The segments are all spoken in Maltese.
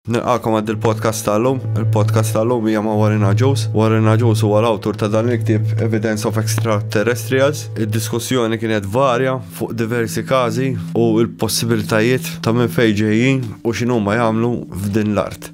Nilqakom għad il-podcast tal-lum. Il-podcast tal-lum hija ma' Warren Aġus. Warren Aġus huwa l-awtur ta' dan il-ktieb Evidence of Extraterrestrials. Id-diskussjoni kienet varja fuq diversi każi u l-possibilitajiet ta' minn fejn ġejjin u x'inhuma jagħmlu f'din l-art.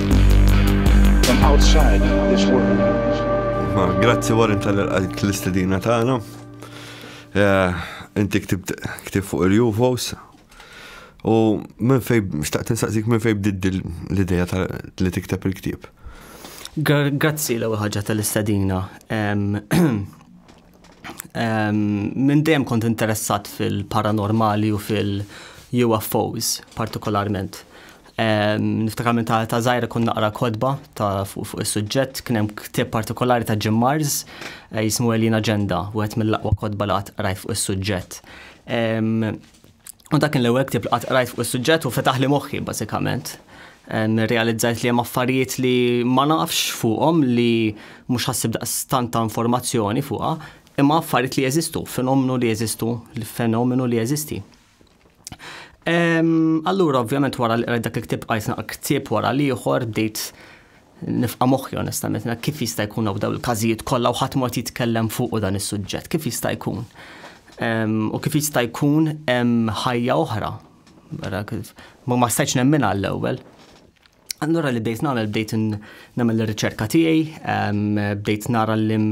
Ma, grazzi Warren tal-għalik l-istedina tagħna. Eh, inti ktib fuq il-UFOs. U minn fej, xtaqt nsaqsik minn fej bdidd l-ideja li tikteb il-ktib. Grazzi l-ewwel ħaġa tal-istedina. Minn dejjem kont interessat fil-paranormali u fil-UFOs partikolarment. Niftakar minn ta' ta' zaħira kun naqra kodba ta' fuq fu is-suġġett kien hemm ktieb partikolari ta' Jim Mars eh, jismu Alien Agenda, wieħed mill-aqwa kodba li qatt qrajt fuq is-suġġett. U dak l-ewwel ktib li qatt qrajt fuq is-suġġett u fetaħ li moħħi bażikament. Realizzajt li hemm affarijiet li ma nafx fuqhom li mhux ħassib daqstant ta' informazzjoni fuqha, imma affarijiet li jeżistu, fenomenu li jeżistu, fenomenu li jeżisti. Allura, ovvjament, wara li qrajt dak il-ktib qajt naqra ktib wara l-ieħor bdejt Nifqa' moħħi onestament na kif jista' jkun hawn dawn il-każijiet kollha u ħadd mod jitkellem fuq dan is-suġġett, kif jista' jkun? U kif jista' jkun hemm ħajja oħra? Mela, ma ma stajtx nemmin għall-ewwel. Allura li bdejt nagħmel bdejt nagħmel ir-riċerka tiegħi, bdejt nara l-lim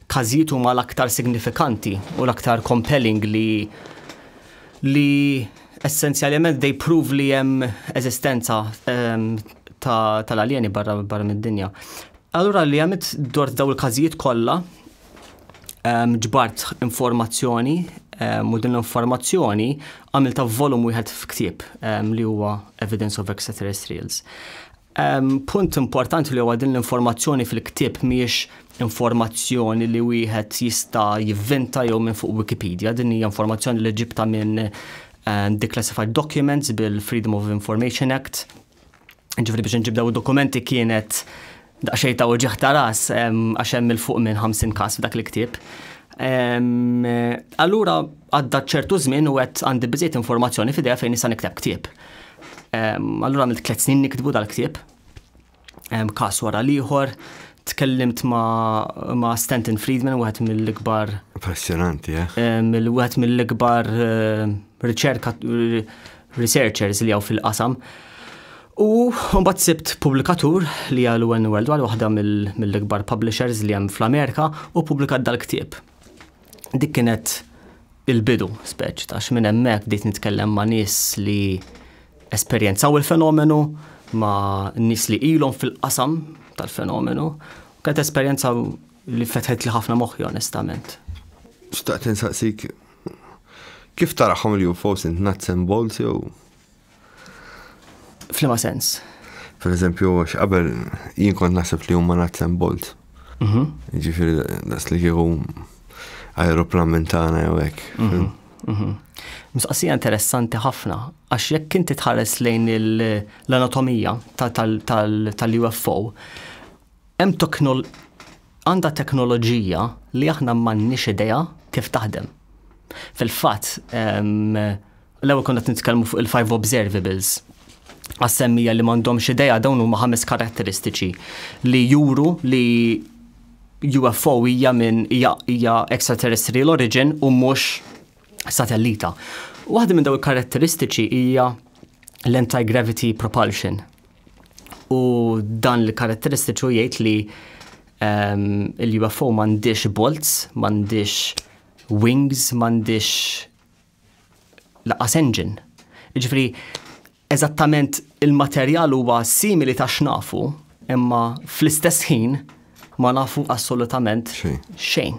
każijiet huma l-aktar signifikanti u l-aktar compelling li li essenzjalment they prove li hemm eżistenza um, tal-aljeni ta barra, barra mid-dinja. Allura li għamilt dort daw il-każijiet kollha um, ġbart informazzjoni um, u din l-informazzjoni għamilta volum wieħed f'ktieb um, li huwa Evidence of Extraterrestrials. Punt importanti li huwa din l-informazzjoni fil-ktieb mhijiex informazzjoni li wieħed jista' jivvinta jew minn fuq Wikipedia, din hija informazzjoni li ġibta minn ehm, declassified documents bil-Freedom of Information Act. Ġifri biex nġibdaw dokumenti kienet daqxej ta' uġiħ ta' ras ehm, għax hemm il-fuq minn 50 każ f'dak il-ktieb. Ehm, allura għadda ċertu żmien u qed għandi biżejt informazzjoni f'idea fejn nista' nikteb ktieb. Allura għamilt tliet snin niktbu dal-ktieb, kas wara l-ieħor, tkellimt ma', ma Stanton Friedman, wieħed mill-ikbar. Impressionanti, eh? Wieħed mill-ikbar eh, riċerka researchers li għaw fil-qasam. U mbagħad sibt pubblikatur li għal UN World War waħda mill-ikbar publishers li hemm fl-Amerika u pubblikat dal-ktieb. Dik kienet il-bidu speċ ta' minn hemmhekk bdejt nitkellem ma' nies li esperjenzaw il-fenomenu, ma' nies li ilhom fil-qasam tal-fenomenu, u kienet esperjenza li fetħet li ħafna moħħi onestament. Xtaqt insaqsik kif taraħħom il-UFOs int nuts and bolts jew Flima sens? Per eżempju, x'qabel jien kont naħseb li huma nuts and bolts. Mhm. Ġifieri das li kieku aeroplan minn tagħna jew hekk. Mhm. Mhm. Mistaqsija interessanti ħafna, għax jekk inti tħares lejn l-anatomija tal-UFO, Hemm teknol għandha teknoloġija li aħna m'għandniex idea kif taħdem. Fil-fatt, l-ewwel konna qed nitkellmu fuq il-five observables. Għas-semmija li m'għandhomx idea dawn huma ħames karatteristiċi li juru li UFO hija minn hija extraterrestrial origin u mhux satellita. Waħda minn daw il-karatteristiċi hija l-anti-gravity propulsion. U dan l-karatteristiċu jgħid li um, il-UFO m'għandix bolts, m'għandix wings, m'għandix laqas engine. Ġifri, eżattament il-materjal huwa simili ta' xnafu, imma fl-istess ħin ma nafu assolutament xejn.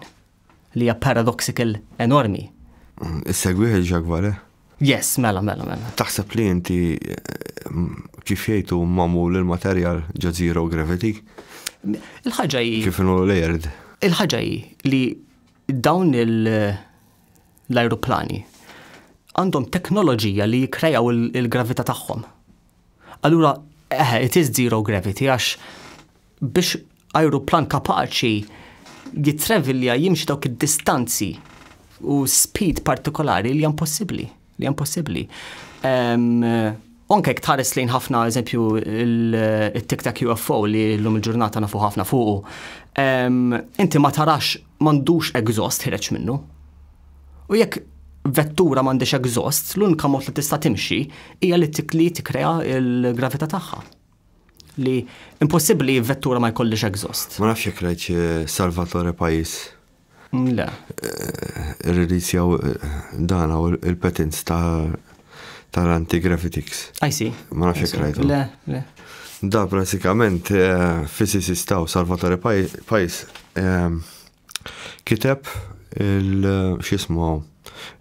li hija paradoxical enormi. Issegwih il-Jacques Vallée? Yes, mela, mela, mela. Taħseb li inti kif jgħidu mamul il-materjal ġo zero gravity? Il-ħaġa hi. Kif inhu layered? Il-ħaġa hi li dawn l-ajruplani għandhom teknoloġija li jikrejaw il-gravità tagħhom. Allura, eħe, it is zero gravity għax biex ajruplan kapaċi jittravelja jimxi dawk id-distanzi u speed partikolari li hemm possibbli, li hemm possibbli. Anke jekk tħares lejn ħafna eżempju il-Tic Tac UFO li llum il-ġurnata nafu ħafna fuqu. Inti ma tarax m'għandux exhaust ħireġ minnu. U jekk vettura m'għandix exhaust, l-unika mod li tista' timxi hija li tikli tikkrea l-gravità tagħha. Li impossibbli vettura ma jkollix exhaust. Ma nafx jekk rajt Salvatore Pajis. Le. Release jew dan u il-patents ta' tal-anti-gravitics. I see. Ma nafx jekk rajt. Le, le. Da pratikament physicist ta' Salvatore Pajis kiteb il-xismu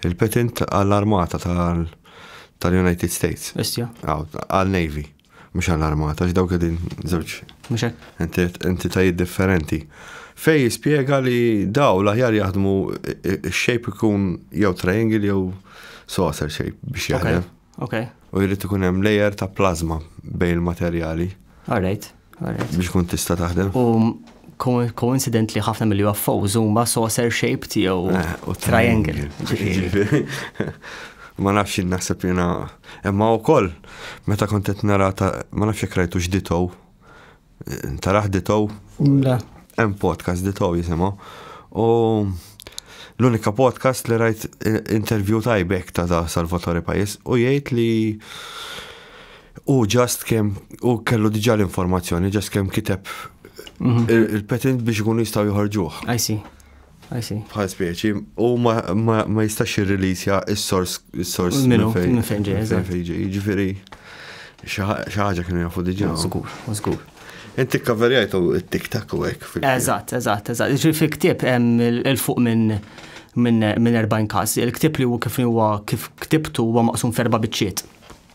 il-patent għall-armata tal-United States. Istja. Għal-Navy. Mhux allarmat għax dawk qegħdin żewġ entitajiet differenti. Fej jispjega li daw l-aħjar jaħdmu x-shape ikun jew triangle jew saucer shape biex jaħdem. Okay. U jrid ikun hemm layer ta' plasma bejn il-materjali. Alright. Biex kun tista' taħdem. U coincidentally ħafna mill-UFOs huma saucer shaped jew eh, triangle. Ma nafx jien naħseb jiena imma wkoll meta kont qed nara ta' ma nafx jekk rajtu x'ditow. Taraħ ditow? Le. Hemm podcast ditow jisimgħu. U l-unika podcast li rajt eh, interview tajbek ta' Salvatore Pajis u jgħid li U ġast kemm u kellu diġà l-informazzjoni, ġast kemm kiteb mhm. il-patent biex ikunu jistgħu joħorġuh. I see. I see. Bħal speċi, u ma jistax jirrilisja is-sors is-sors minn fejn fejn ġej. Ġifieri xi ħaġa kienu jafu diġà. Żgur, żgur. Inti kaverjajtu it-tiktak u hekk. Eżatt, eżatt, eżatt. Ġifieri fil-ktieb hemm il-fuq minn minn 40 każ. Il-ktieb li huwa kif huwa kif ktibtu huwa maqsum ferba biċċiet.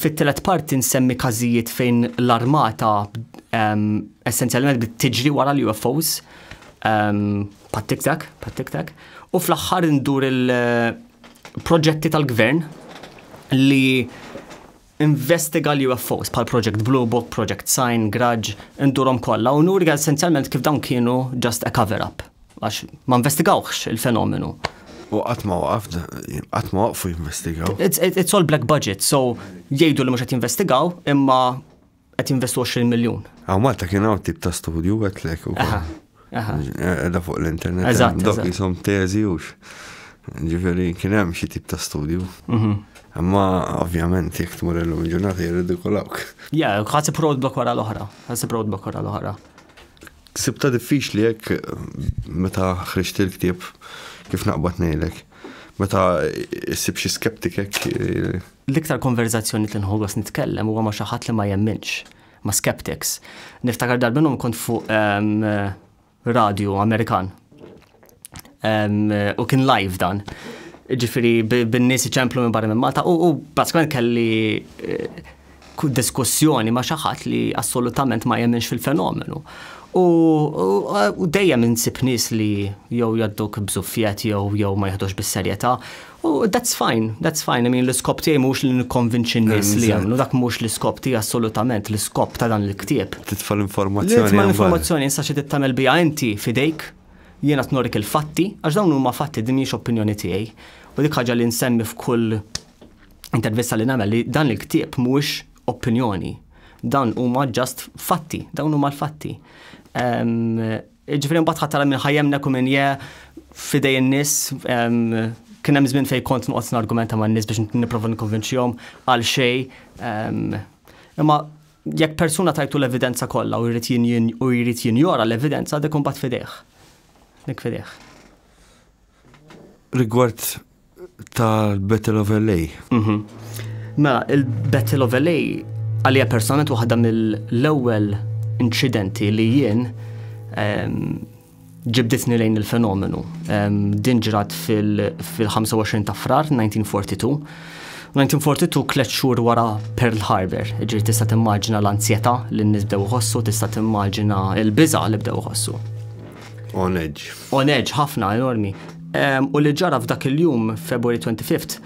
Fit-tielet parti nsemmi każijiet fejn l-armata essenzjalment bdiet tiġri wara l-UFOs, pat-tiktak, pat-tiktak, u fl-aħħar ndur il-proġetti tal-gvern li investiga l-UFOs bħal Project Blue Book, Project Sign, Grudge, indurhom kollha u nuri essenzjalment kif dawn kienu just a cover-up. Għax ma investigawx il-fenomenu. U qatt ma waqaf, qatt ma waqfu jinvestigaw. It's all black budget, so jgħidu li mhux qed jinvestigaw imma qed jinvestu 20 miljun. Għaw Malta kien hawn tip ta' studju għetlek u Edha fuq l-internet. Eżatt. Dok jisom teżi u ġifieri kien hemm xi tip ta' studju. Mhm. Imma ovvjament jekk tmur illum ġurnata jirridikolawk. Ja, ħasib roadblock wara l-oħra. Ħasib roadblock wara l-oħra. Sibta diffiċli hekk meta ħriġt il-ktieb kif naqbad ngħidlek. Meta issib xi skeptik hekk. Eh, L-iktar konverzazzjoni li nħogos nitkellem huwa ma' xi ħadd li ma jemminx, ma' skeptics. Niftakar darbinhom kont fuq ehm, radio Amerikan U kien live dan. Ġifiri, bin-nies iċemplu minn barra minn Malta u baskament kelli eh, diskussjoni ma' xaħat li assolutament ma jemminx fil-fenomenu. U dejjem insib nies li jew jadduk bżuffiet jew jew ma jaħdux bis-serjetà. U that's fine, that's fine. I mean, l-iskop tiegħi mhux li nikkonvinċi n-nies li jagħmlu, dak mhux l-iskop tiegħi assolutament, l-iskop ta' dan il-ktieb. Titfa' l-informazzjoni. Titfa' l-informazzjoni issa xi tagħmel biha inti fidejk Jien qed norik il-fatti, għax dawn huma fatti din mhijiex opinjoni tiegħi. U dik ħaġa li nsemmi f'kull intervista li nagħmel li dan il-ktieb mhuwiex opinjoni. Dan huma ġast fatti, dawn huma l-fatti. Ġifieri mbagħad ħadd minn ħajjemnek u minn je fidej in-nies kien hemm żmien fejn kont noqgħod nargumenta man-nies biex nipprova nikkonvinċihom għal xejn. Imma Jekk persuna tajtu l-evidenza kollha u jrid jinjora l-evidenza dik imbagħad fidejh. Dik fidejh. Rigward tal-Battle of LA. Mhm. Mela, il-Battle of LA għalija personalment waħda mill-ewwel inċidenti li jien ehm, ġibditni lejn il-fenomenu. Din ġrat fil-25 ta' frar 1942. 1942 tliet xhur wara Pearl Harbor, ġiri tista' timmaġina l-anzjetà li n-nies bdew iħossu, tista' timmaġina l-biża' li bdew iħossu. On edge. On edge, ħafna, enormi. U li ġara f'dak il-jum, February 25th,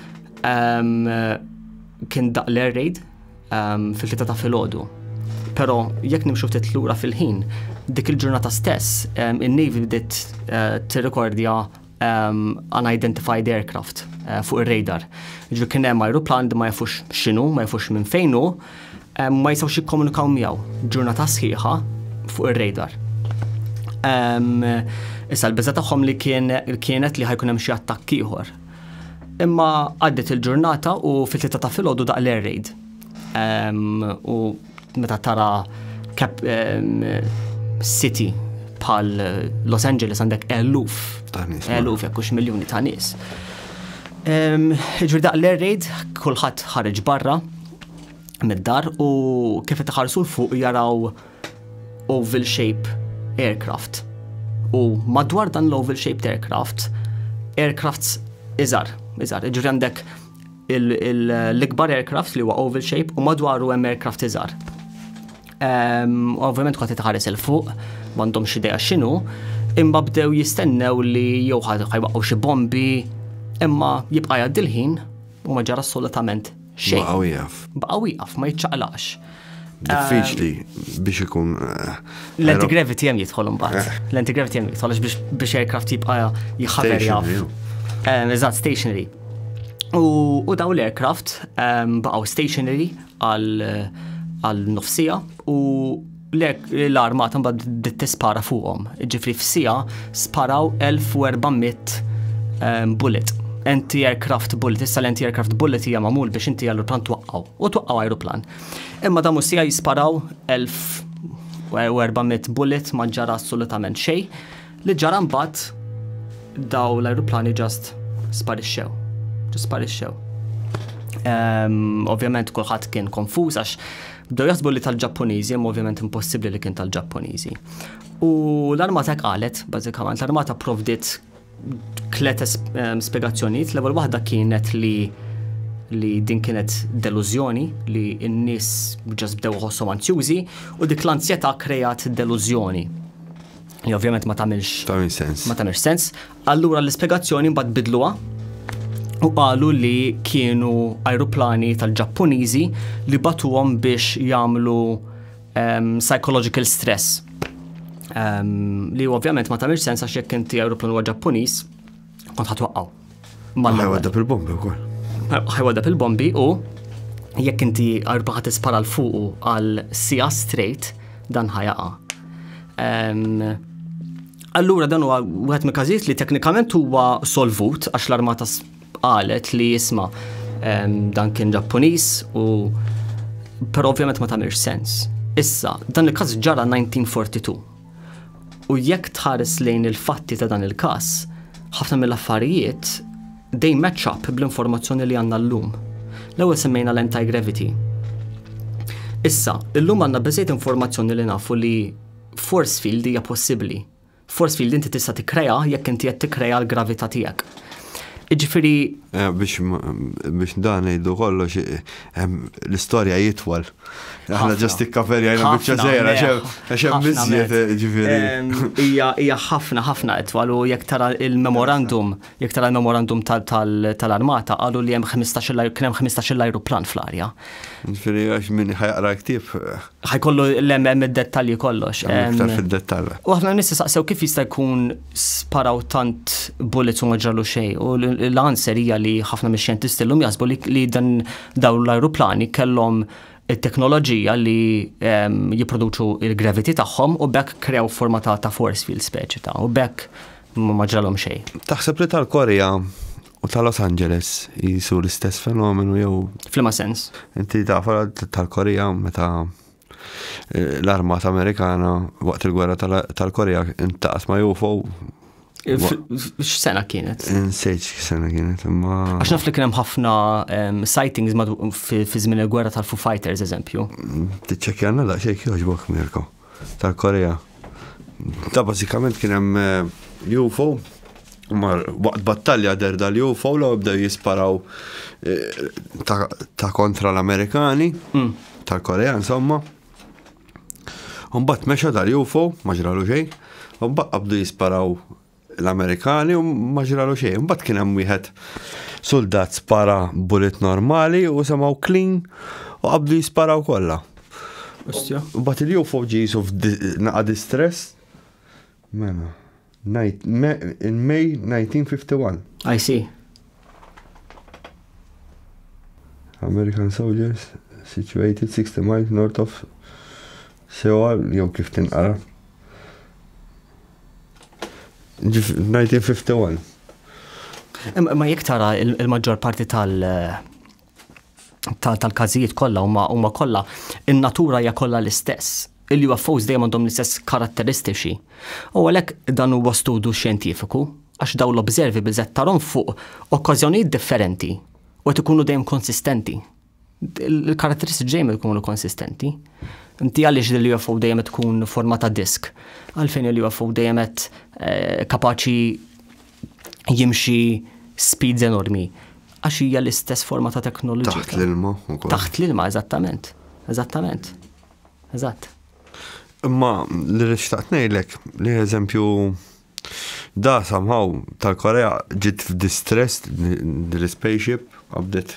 kien daq l-air raid Ehm, fil-tlieta ta' filgħodu. Però jekk nimxu ftit lura fil-ħin, dik il-ġurnata stess, ehm, in-Navy bdiet eh, tirrekordja ehm, unidentified aircraft eh, fuq ir-radar. Ġu kien hemm ajruplan li ma jafux x'inhu, ma jafux minn fejn hu, ma jistgħux jikkomunikaw miegħu ġurnata sħiħa fuq ir-radar. Issa l-biża tagħhom li kienet li ħajkun hemm xi attakk ieħor Imma għaddiet il-ġurnata u fit-tlieta ta' filgħodu daq l-air raid. U meta tara city bħal Los Angeles għandek eluf, eluf jekkux miljoni ta' nies. Ġri daq l-air raid, kulħadd ħareġ barra mid-dar u kif qed iħarsu l fuq jaraw oval shape aircraft. U madwar dan l-oval shaped aircraft, aircrafts iżar, iżar, ġifri għandek l-ikbar aircraft li huwa oval shape u madwaru hemm aircraft iżar. Ehm, ovvjament kont tħares il fuq, m'għandhom xi dejja x'inhu, imma bdew jistennew li jew ħajwaqgħu xi bombi, imma jibqa' jgħaddi l-ħin u ma ġara assolutament Xejn. Baqa' wieqaf. Baqa' wieqaf, ma jiċċaqlaqx. Diffiċli biex ikun. Eh, L-antigravity hemm jidħol imbagħad. Eh. L-antigravity hemm jidħol biex aircraft jibqa' jħaber jaf. Eh, eżatt, stationary. U daw l-aircraft baqgħu stationary għal nofsija u Lek l-armata mbagħad bdiet tispara fuqhom. Ġifri f'sija sparaw 1400 ehm, bullet. Anti-aircraft bullet, issa l-anti-aircraft bullet hija magħmul biex inti l-plan twaqqgħu u twaqqgħu ajruplan. Imma damu sija jisparaw 1400 bullet ma ġara assolutament xejn. Li ġara mbagħad daw l-ajruplani ġast sparixxew. Ġast sparixxew. Ehm, ovvjament kulħadd kien konfuż għax bdew jaħsbu li tal-Ġappuniżi, imma ovvjament impossibbli li kien tal-Ġappuniżi. U l-armata qalet, bażikament, l-armata provdit tlet ehm, spiegazzjonijiet, l-ewwel waħda kienet li li din kienet delużjoni li n-nies ġas bdew ħossom anzjużi u dik l-anzjetà krejat delużjoni. Li ovvjament ma tagħmilx. Tagħmilx sens. Ma tagħmilx sens. Allura l-ispjegazzjoni mbagħad bidluha u qalu li kienu ajruplani tal-Ġappuniżi li batuhom biex jagħmlu um, psychological stress. Um, li ovvjament ma tagħmilx sens għax jekk inti ajruplan huwa Ġappuniż, kont ħatwaqqaw. Ħajwadda pil-bombi u kol. ħajwadda pil-bombi u jekk inti arba ħat ispara l-fuqu għal sija straight dan ħajaqa. Allura dan huwa wieħed mill każijiet li teknikament huwa solvut għax l-armata qalet li jisma' dan kien Ġappuniż u però ovvjament ma tagħmilx sens. Issa, dan il-każ ġara 1942. U jekk tħares lejn il-fatti ta' dan il-każ, ħafna mill-affarijiet they match up bl-informazzjoni li għandna llum. L-ewwel semmejna l-anti-gravity. Issa, illum għandna biżejt informazzjoni li nafu li force field hija possibbli. Force field inti tista' tikkrea jekk inti qed tikkrea l-gravità tiegħek. Ġifiri. Eh, biex dan ngħidu kollox eh, eh, l-istorja jitwal. Aħna ġast ikkaperjajna biċċa żejra, xem biżjed ġifiri. Hija ħafna ħafna itwal u jekk tara il-memorandum, jekk tara il-memorandum tal-armata qalu li hemm 15 kien hemm 15 ajruplan fl-arja. Ġifiri għax min ħajqra ktieb. Ħajkollu l-hemm id-dettalji kollox. Iktar fid-dettall. U aħna nissi saqsew kif jista' jkun sparaw tant bullets u ma ġralu xejn. U l-answer hija li ħafna mix-xjentisti llum jaħsbu li dan dawn l-ajruplani kellhom it-teknoloġija li ehm, jipproduċu il-gravity tagħhom u bekk krew forma ta' ta' force field speċi ta' u bekk ma ġralhom xejn. Taħseb li tal-Korea u ta' Los Angeles jisu l-istess fenomenu jew. Flima sens. Inti tafa tal-Korea meta l-armata Amerikana waqt il-gwerra tal-Korea intaqas ma' UFO. X'sena kienet? Nsejt x'sena kienet, imma. Għax naf li kien hemm ħafna sightings fi żmien il-gwerra tal-Foo Fighters, eżempju. Tiċċekkjanna da xejk jogħġbok Mirko tal-Korea. Ta' bażikament kien hemm eh, UFO Mar waqt battalja der dal u fowla u bdew jisparaw eh, ta' kontra l-Amerikani, mm. tal-Korea, insomma. Umbat meċa dal u fow, maġralu xej, umbat qabdu jisparaw l-Amerikani u maġralu xej. Umbat kien hemm wieħed soldat spara bullet normali u semaw clean u qabdu jisparaw kollha. Umbat il-UFO ġisu f'naqa distress Mela, ngħid me in May 1951. I see. American soldiers situated 60 miles north of Seoul, jew kif tinqara. Ġif- 1951. Imma ma jekk tara il-maġġor parti tal- tal-każijiet kollha huma kollha in-natura hija kollha l-istess il ufos dejjem għandhom l-istess karatteristiċi. U għalhekk dan huwa studju xjentifiku għax daw l-observi biżet tarom fuq okkażjonijiet differenti u qed ikunu dejjem konsistenti. Il-karatteristiċi dejjem ikunu konsistenti. Inti għaliex li l-UFO dejjem tkun forma ta' disk, għalfejn il-UFO dejjem eh, kapaċi jimxi speeds enormi. Għax hija l-istess forma ta' teknoloġija. Taħt l-ilma. Taħt l-ilma, eżattament. Eżattament. Eżatt. Imma li rixtaqt ngħidlek li eżempju da samħaw tal-Korea ġiet f'distress l-spaceship A bdiet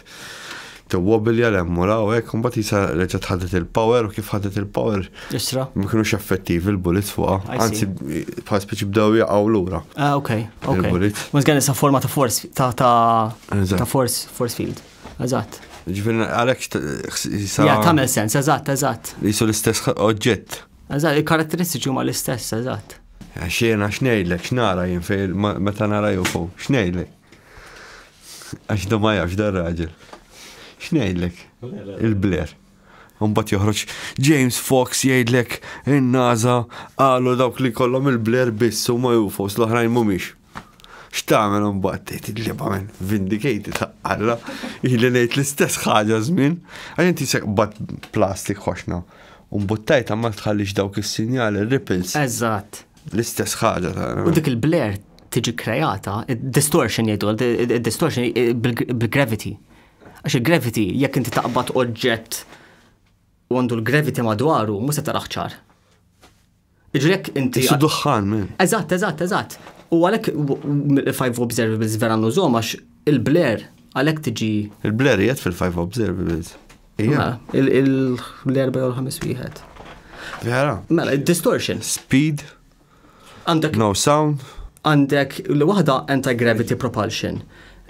tiwwobilja l hemm u l hawn hekk u mbagħad qisha reġgħet ħadet il-power u kif ħadet il-power Isra. ma kinux effettivi l-bullets fuqha. I see. Anzi bħal speċi bdew jaqgħu lura. Ah, ok, ok. Il-bullet. Mhux kien issa forma ta' force ta' ta' Eżatt. ta' force force field. Eżatt. Ġifieri għalhekk t- jisa- Ja, tagħmel sens, eżatt, eżatt. jisu l-istess oġġett. Eżatt, il-karatteristiċi huma l-istess, eżatt. Għax jiena x'ngħidlek, x'nara jien fejn ma- meta nara UFO, x'ngħidlek? Għax da ma jafx dar raġel. X'ngħidlek? Il-bler. Umbat joħroġ James Fox jgħidlek in-naza qalu dawk li kollhom il-bler biss u ma jufos l-oħrajn mhumiex. X'tagħmel umbat tgħid il-liba minn vindicated taqalla li ngħid l-istess ħaġa żmien għal inti seqbad plastik ħoxna. Umbuttajt ma tħallix dawk is-sinjali ripples. Eżatt. L-istess ħaġa ta' U dik il-blare tiġi kreata, distortion jgħidu, distortion eh, bil-gravity. Għax il-gravity, jekk inti taqbad oġġett u għandu l-gravity madwaru, mhux se taraħ ċar. Iġrek inti. Isu duħħan, men. Eżatt, eżatt, eżatt. U għalek il-five observables vera nużom għax il-bler għalek tiġi. Il-bler jgħet fil-five observables. Mela, l-erba jew l-ħames wieħed. Vera? Mela, distortion. Speed. Għandek. No sound. Għandek l waħda anti-gravity propulsion,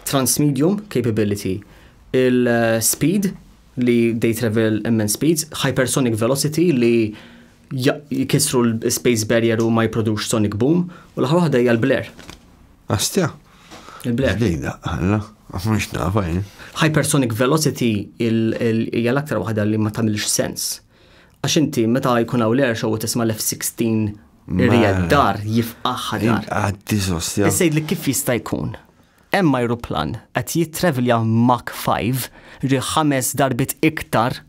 transmedium capability, il-speed li they travel immense speeds, hypersonic velocity li jkissru l-space barrier u ma jiprodux sonic boom, u l-aħħar waħda hija l-blare. Astja? Il-blare. Dejda, għalla, mhux nafa jien. Hypersonic velocity hija l-aktar waħda li ma tagħmilx sens. Għax inti meta jkun hawn l-air show u tisma' l-F-16 Rijad dar jifqaħħa dar. Għaddi sostja. Sejd li kif jista' jkun? Hemm ajruplan qed jittravelja Mach 5, ġifieri ħames darbiet iktar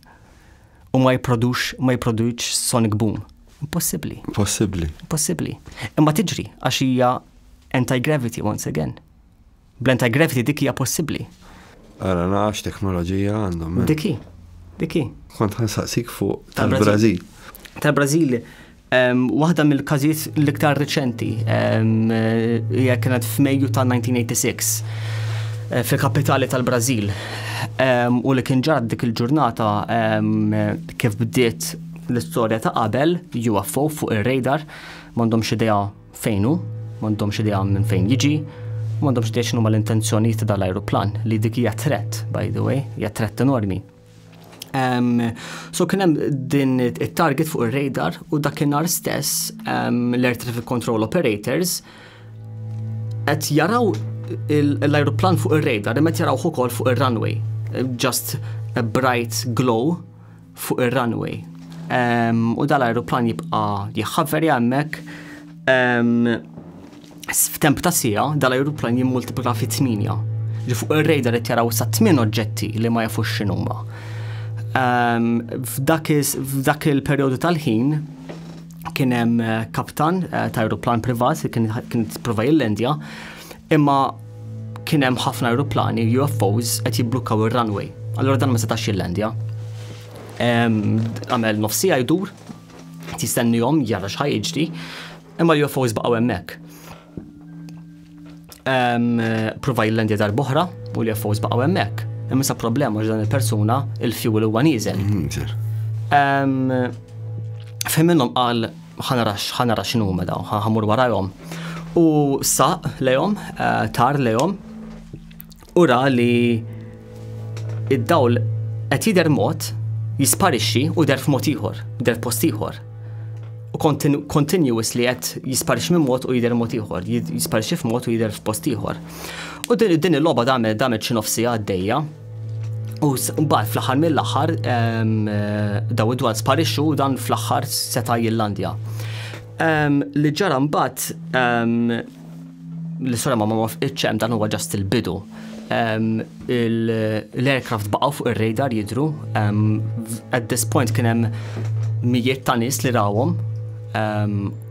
u ma jipprodux, ma jipproduċx sonic boom. Impossibbli. Impossibbli. Impossibbli. Imma tiġri għax hija anti-gravity once again. Bl-anti-gravity dik hija possibbli. Ara nafx teknoloġija għandhom. Diki, diki. Kont ħansaqsik fuq tal-Brażil. Tal-Brażil Waħda mill-każijiet l-iktar riċenti hija kienet f'Mejju ta' 1986 fil-kapitali tal-Brażil u li kien ġara dik il-ġurnata kif bdiet l-istorja ta' qabel UFO fuq ir-radar m'għandhomx idea fejnu, m'għandhomx idea minn fejn jiġi, m'għandhomx idea x'inhuma l-intenzjonijiet ta' dal-ajruplan li dik hija threat by the way, hija threat enormi. Um, so kien hemm din it-target fuq ir-radar u dakinhar stess um, l-Air Traffic Control Operators qed jaraw l-ajruplan fuq ir-radar imma jaraw ukoll fuq ir-runway. Just a bright glow fuq ir-runway. Um, u dal-ajruplan jibqa' jħaveri hemmhekk. Um, F'temp ta' siegħa, dal-ajruplan jimmultiplika fi tmienja. Ġi fuq ir-radar qed jaraw sa tmien oġġetti li ma jafux x'inhuma. Ehm, f'dak il-perjodu tal-ħin kien hemm eh, kaptan eh, ta' ajruplan privat li kien jipprova jillendja, imma kien hemm ħafna ajruplani UFOs qed jibblukkaw ir-runway. Allura dan ma setax jillendja. Ehm, għamel nofsija jdur, jistennihom jara x'ħajġri, Imma l-UFOs baqgħu hemmhekk. Prova jillendi darb'oħra u l-UFOs baqgħu hemmhekk. Imma sa problema ġdan il-persuna il-fuel huwa nieżel. Mhm, Fim minnhom qal ħanarax ħanarax x'inhu mela ħamur warajhom. U saq lejhom, eh, tar lejhom U ra li id-dawl qed jidher mod jisparixxi u der f'mod ieħor, der post ieħor. U continuous li qed jisparixxi minn mod u jidher mod ieħor, jisparixxi f'mod u jidher f'post ieħor. U din il-logħba damet damet xi nofsi għaddejja. U mbagħad fl-aħħar mill-aħħar eh, daw id-dwar sparixxu dan fl-aħħar seta' jillandja. Li ġara mbagħad L-istorja ma ma fqitx hemm dan huwa ġast il-bidu. L-aircraft baqgħu fuq ir-radar jidru. At this point kien hemm mijiet ta' nies li rawhom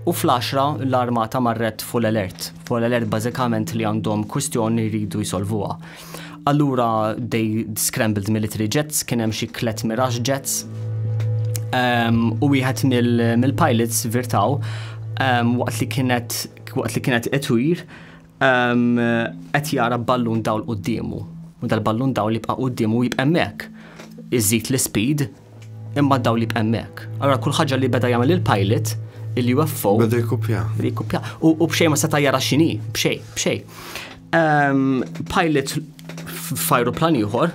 u fl-10 l-armata marret full alert. Full alert bażikament li għandhom kwistjoni jridu jsolvuha. Allura they scrambled military jets, kien hemm xi klet mirage jets u wieħed mill-pilots virtaw waqt li kienet waqt li kienet etwir qed jara ballun dawl quddiemu. U dal-ballun dawl li bqa' quddiemu jibqa' hemmhekk. Iżid l-speed imma dawl li hemmhekk. Allora kull ħaġa li beda jagħmel il-pilot il-UFO. Beda jkupja. Beda jkupja. U bxej ma seta' jara x'inhi, bxej, bxej. Pilot f'ajruplan ieħor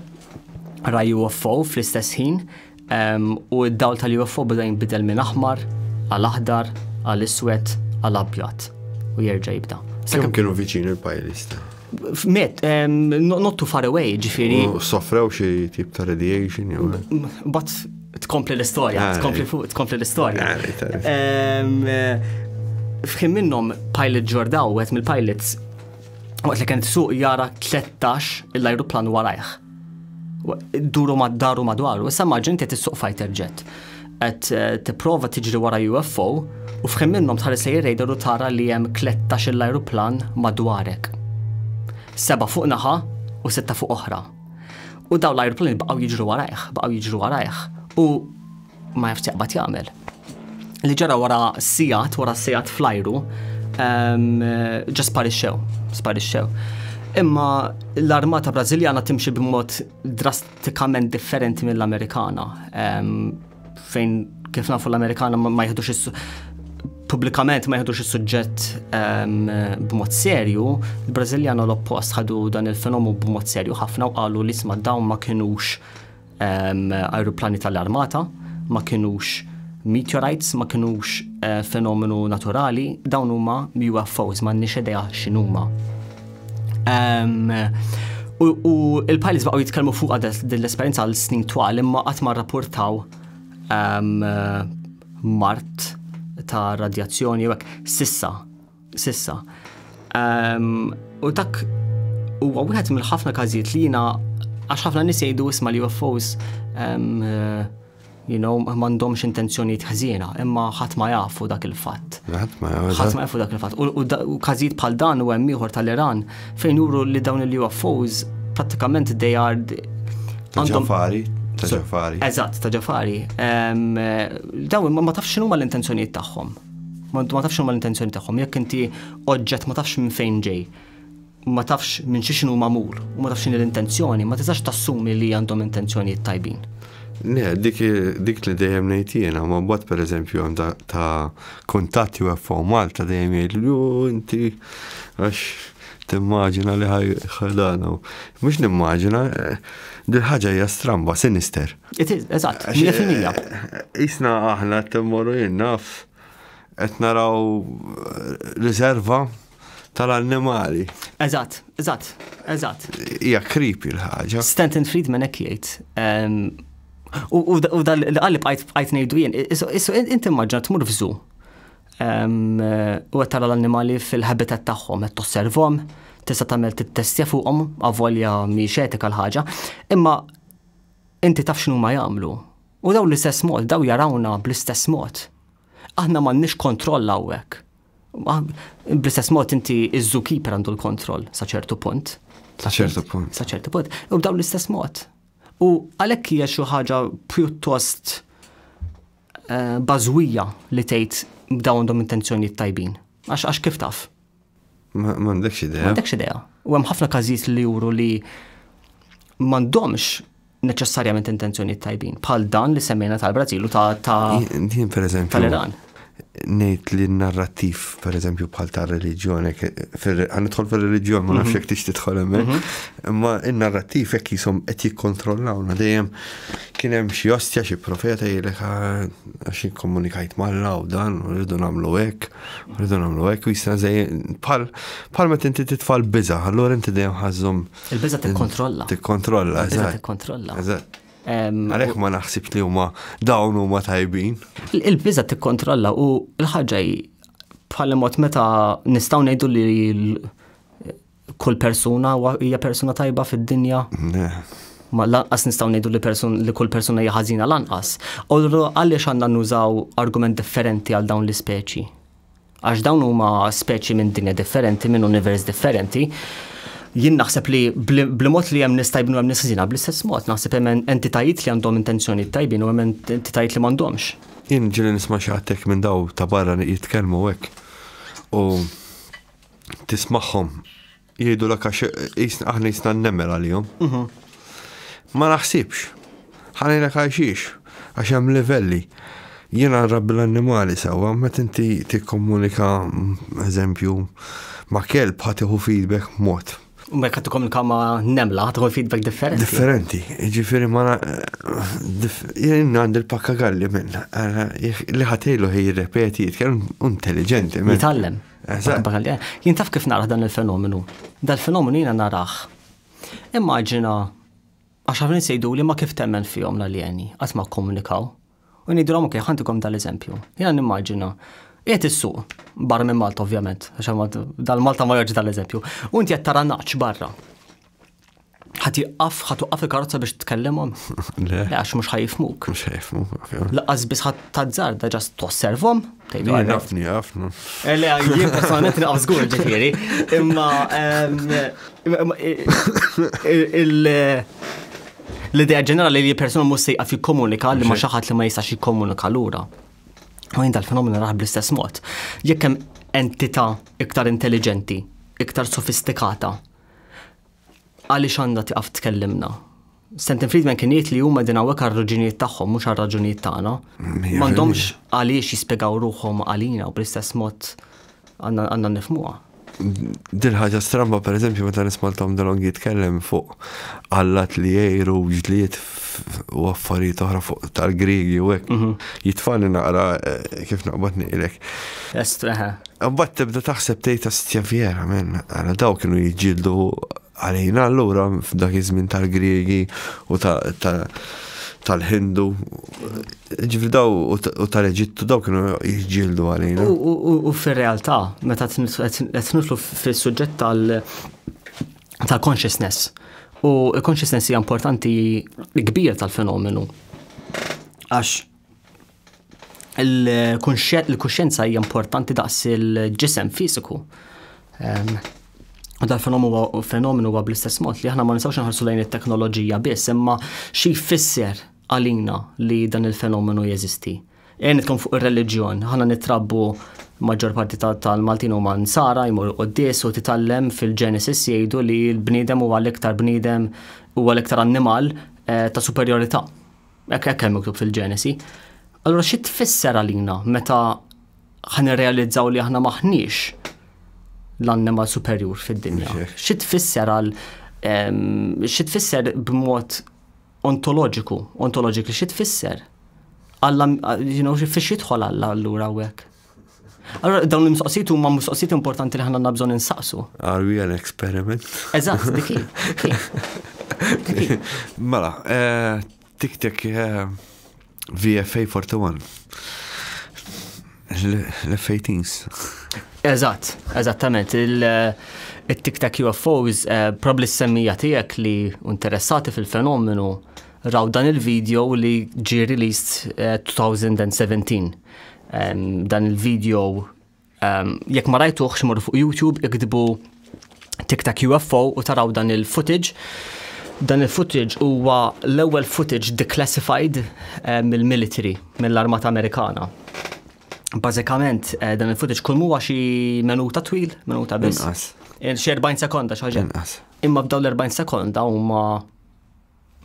ra UFO fl-istess ħin u d-dawl tal-UFO beda jinbidel minn aħmar għal aħdar għal iswed għal abjad u jerġa' jibda. Kemm kienu viċin il-pajlista? Met, not too far away, ġifiri. Soffrew xi tip ta' radiation jew. But tkompli l-istorja, ah, tkompli fuq, tkompli l-istorja. Ah, eh, Fħim minnom pilot ġordaw, għet mill-pilots, għet li kent suq jara 13 l-ajruplan warajħ. Duru mad-daru madwaru, issa maġin qed issuq fighter jet. Qed eh, tipprova tiġri wara UFO u fħin minnhom tħares lejn radar u tara li hemm 13 l-ajruplan madwarek. Seba' fuq naħa u sitta fuq oħra. U daw l-ajruplani baqgħu jiġru warajh, baqgħu jiġru warajh. U Ma jafx jaqbad jagħmel. Li ġara wara sigħat, wara sigħat flajru, ehm, ġa sparixxew, sparixxew. Imma l-armata Brażiljana timxi b'mod drastikament differenti mill-Amerikana. Ehm, fejn kif nafu l-Amerikana ma jħedux is publikament ma jħedux is-suġġett ehm, b'mod serju, il-Brażiljana l-oppost ħadu dan il-fenomu b'mod serju ħafna u qalu li sma dawn ma kinux Ajruplani tal-armata ma kinux meteorites, ma kinux eh, fenomenu naturali, dawn huma UFOs, ma nix idea x'inhuma. U il-pilots baqgħu jitkellmu fuq din l-esperjenza għal snin twal imma qatt ma rrapportaw mart ta' radjazzjoni jekk sissa Sissa. U dak huwa wieħed mill-ħafna każijiet li jiena għax ħafna nies jgħidu isma' li UFOs you know, mandomx intenzjoniet ħżiena, imma ħadd ma jafu dak il-fatt. Ħadd ma jafu dak il-fatt. U każijiet bħal dan u hemm ieħor tal-Iran fejn juru li dawn il-UFOs pratikament they are għandhom fari. Ta' ġafari. Eżatt, ta' ġafari. Dawn ma tafx x'inhuma l-intenzjonijiet tagħhom. Ma intu ma tafx huma l-intenzjoni tagħhom, jekk inti oġġett ma tafx minn fejn ġej, ma tafx minn xi xinu magħmul u ma tafx x'inhi l-intenzjoni, ma tistax tassumi li għandhom intenzjonijiet tajbin. Le, dik li dejjem ngħid jiena, ma mbagħad pereżempju hemm ta' kuntatt jew FO Malta dejjem jgħid li inti għax timmaġina li ħajdana. Mhux nimmaġina, dil ħaġa hija stramba, sinister. It is, eżatt, 100%. Isna aħna t-temmoru jinnaf, qed naraw eh, riserva tal-annimali. Eżatt, eżatt, eżatt. Hija kripi l-ħaġa. Stanton Friedman hekk jgħid. Ehm, u dal għalli bqajt ngħidu jien, issu inti maġġa tmur f'żu. Ehm, u qed tara l-annimali fil-habitat tagħhom, qed tosservhom, tista' tagħmel tittestja fuqhom avolja mhix etika l-ħaġa. Imma Inti taf x'inhuma jagħmlu. U dawn l-istess mod, dawn jarawna bl-istess mod. Aħna m'għandniex kontroll hawnhekk. Bl-istess mod inti iż-zookeeper għandu l-kontroll sa ċertu punt. Sa ċertu punt. Sa ċertu punt. U b'dawn l-istess mod. U għalhekk hija xi ħaġa pjuttost eh, bażwija li tgħid b'dawn għandhom intenzjonijiet tajbin. Għax għax kif taf? M'għandekx idea. M'għandekx idea. U hemm ħafna każijiet li juru li m'għandhomx neċessarjament intenzjoni tajbin, bħal dan li semmejna tal-Brażil u ta' tal-Iran. Nejt li narrativ, per eżempju, bħal ta' religjon, għanitħol fil religjon ma nafx mhm. jek tix titħol emmen, mhm. imma il-narrativ jek jisom qed jikkontrollawna dejjem kien hemm xi ostja xi profeta jgħidlek ah, għax jikkomunikajt mal-law dan u rridu nagħmlu hekk Rridu nagħmlu hekk u jisna żej bħal bħal meta inti titfal biża, allura inti dejjem ħażhom. Il-biża tikkontrolla. Tikkontrolla, eżatt. Tikkontrolla. Eżatt. Għalhekk ma naħsibx li huma dawn huma tajbin. Il-biża tikkontrolla u l-ħaġa bħal mod meta nistgħu ngħidu li Kull persuna hija persuna tajba fid-dinja. Ma lanqas nistgħu ngħidu li person li kull persuna hija ħażina lanqas. U għaliex għandna nużaw argument differenti għal dawn l-ispeċi? Għax dawn huma speċi minn dinja differenti, minn univers differenti. Jien naħseb li bl-mod li hemm nistajbnu hemm nisħżina bl-istess mod, naħseb hemm entitajiet li għandhom intenzjoni tajbin u hemm entitajiet li m'għandhomx. Jien ġili nisma' xi minn daw ta' barra jitkellmu hekk. U tismagħhom jgħidu l għax jisna aħna jisna nemel għalihom. Mhm. Ma naħsibx. Ħanajna għajxiex, għax hemm livelli. Jiena nrabbi l-annimali sewwa, met inti tikkomunika eżempju ma' kelb ħatiħu feedback mod. U ma jkattu komunika ma' nemla, ħatiħu feedback differenti. Differenti, ġifiri ma' jien għand il-pakka galli minn, li ħatejlu ħej repeti, jitkellem intelligenti. Jitallem. Jien taf kif naraħ dan il-fenomenu. Dal-fenomenu jiena naraħ. Immaġina, għax għafni sejdu li ma kif temmen fihom l-aljeni, għat ma komunikaw. U nidrom, ok, ħantikom dal-eżempju. Jiena nimmaġina, Jiet is-suq, barra minn Malta ovvjament, għax dal-Malta ma joġ dal-eżempju. U inti qed tara naċ barra. ħat jiqqaf, ħat uqqaf il-karozza biex tkellimhom. Le. Għax mhux ħajfmuk. Mhux ħajfmuk. Laqas biss ħat tazzarda ġast tosservhom. Jafni, jafni. Eh, le, jien personalment naqaf żgur ġifieri. Imma l-idea ġenerali li persuna mhux se jqaf jikkomunika li ma xi ħadd li ma jistax jikkomunika lura. U jien dal-fenomenu raħ bl-istess mod. Jekk hemm entità iktar intelligenti, iktar sofistikata, Għaliex għandha tiqaf tkellimna? Stanton Friedman kien jgħid li huma din hawnhekk għar-raġunijiet tagħhom mhux għar-raġunijiet tagħna. M'għandhomx għaliex jispjegaw ruħhom għalina u bl-istess mod għandna nifmuha. Dil ħaġa stramba pereżempju meta nismaltom dalong jitkellem fuq allat li jgħiru ġlied u affarijiet oħra fuq tal-Griegi u hekk. Mhm. Jitfani naqra eh, kif naqbad ngħidlek. Estraħa. Mbagħad tibda taħseb tgħid astja fjera minn għala daw kienu jiġġieldu għalina allura f'dak iż-żmien tal-Griegi u ta' tal-Hindu, ġifri daw u tal-Eġittu daw kienu jġildu għalina. U fil-realtà, meta t-nitlu fil-sujġet tal- ta' consciousness. U consciousness hija importanti kbir tal-fenomenu. Għax il-kuxjenza hija importanti daqs il-ġisem fiżiku. Ehm, u dal-fenomenu huwa bl-istess mod li aħna ma nistgħux nħarsu lejn it-teknoloġija biss, imma xi jfisser għalina li dan il-fenomenu jeżisti. Ejja nitkellmu fuq ir-reliġjon. Aħna nittrabbu maġġor parti tal-Maltin huma nsara jmur quddies u titgħallem fil-Genesis jgħidu li l-bniedem huwa l-iktar bniedem huwa l-iktar annimal eh, ta' superjorità. Hekk hekk hemm miktub fil-Genesi. Allura xi tfisser għalina meta ħan irrealizzaw li aħna maħniex l-annimal superjur fid-dinja? Xi tfisser għal ehm, xi tfisser b'mod Ontoloġiku, ontoloġiku xi tfisser? Alla, you know, fiex jidħol Alla allura hawnhekk? Allora, dawn l-mistoqsijiet huma mistoqsijiet importanti li ħanna bżonn insaqsu. Are we an experiment? Eżatt, diki. Mela, eh, tik tik eh, VFA 41. L-F-18s. Eżatt, eżattament. Il-tiktak eh, UFOs, eh, probabli s-semmija tijek li interessati fil-fenomenu raw dan il-video li ġi released 2017. Eh, dan il-video Ehm, jekk ma rajtuħx morru fuq YouTube iktbu TikTok UFO u taraw dan il-footage. Dan il-footage huwa l-ewwel footage declassified eh, mill-military, mill-Armata Amerikana. Bażikament eh, dan il-footage kull huwa xi minuta twil, minuta biss. Inqas. Eh, xi 40 sekonda xi ħaġa. Inqas. Imma b'dawn l-40 sekonda huma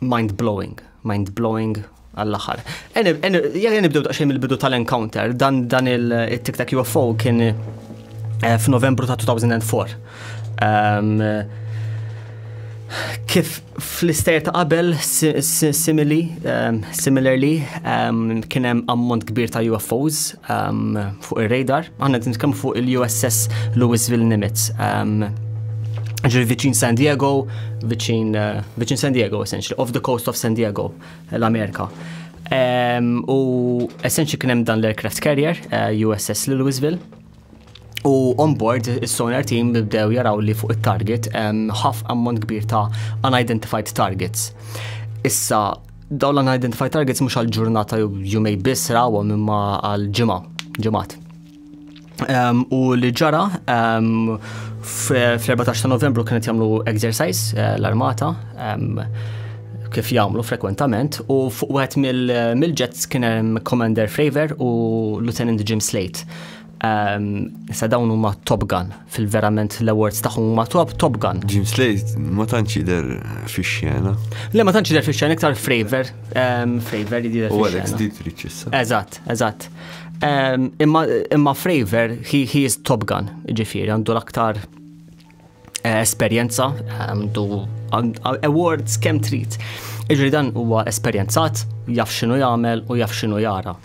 Mind blowing, mind blowing għall-aħħar. Jekk nibdew daqsxejn mill-bidu tal-encounter, dan dan il-Tic Tac UFO kien eh, f'Novembru ta' 2004. Um, ehm, kif fl-istajer ta' qabel simili, um, similarly, um, kien hemm ammont kbir ta' UFOs Um, fuq ir-radar, għanna għedin nitkellmu fuq il-USS Louisville Nimitz. Um, ġiri viċin San Diego, viċin, uh, viċin San Diego, essentially, off the coast of San Diego, l-Amerika. Um, u essentially kienem dan l-aircraft carrier, uh, eh, USS Louisville, U on-board, il-sonar team bdew jaraw li fuq il-target ħaf ammont kbir ta' unidentified targets. Issa, daw l-unidentified targets mux għal-ġurnata jumej biss rawa mimma għal-ġimma, ġimmat. U li ġara, fl-14 ta' novembru kienet jamlu exercise eh, l-armata, kif jamlu frekwentament, u fuq wieħed mill-jets kien hemm Commander Fravor u Lieutenant Jim Slate. Issa dawn huma Top Gun, fil-verament l-awards tagħhom huma top Top Gun. Jim Slade ma tantx jidher fix-xena. Le ma tantx jidher fix-xena iktar Fravor, Fravor jidher fix-xena. U Alex Dietrich issa. Eżatt, eżatt. Imma Fravor he is Top Gun, ġifieri għandu l-aktar eh, esperjenza, għandu awards kemm trid. Iġri dan huwa esperjenzat, jaf x'inhu jagħmel u jaf x'inhu jara.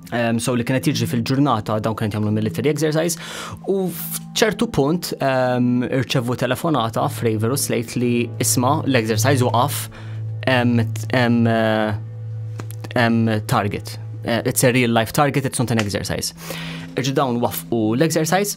Um, so li kienet jiġri fil-ġurnata dawn kienet jagħmlu military exercise u f'ċertu punt um, irċevu telefonata f'Raver u Slate li isma l-exercise waqaf um, um, um, target. Uh, it's a real life target, it's not an exercise. Irġi dawn wafqu l-exercise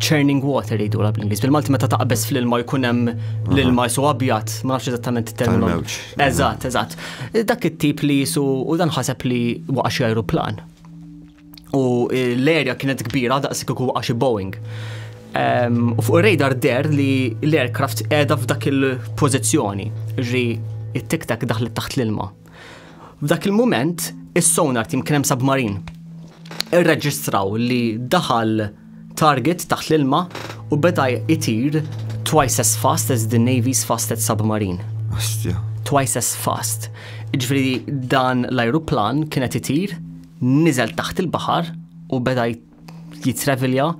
churning water jgħidu la bl-Ingliż. Bil-Malti meta taqbeż fl-ilma jkun hemm l-ilma jisu abjad, ma nafx eżattament terminu. Eżatt, eżatt. Dak it-tip li jisu u dan ħaseb li waqa' xi aeroplan. U l-erja kienet kbira daqs kieku waqa' xi Boeing. U fuq ir-radar der li l-aircraft qiegħda f'dak il-pożizzjoni, ġri it-tiktak daħlet taħt l-ilma. F'dak il-mument, is-sonar tim kien hemm submarin. Irreġistraw li daħal target taħt l-ilma u beda jtir twice as fast as the Navy's fastest submarine. Astja. Twice as fast. Ġifri dan l-ajruplan kienet itir, nizel taħt il-bahar u beda jitrevilja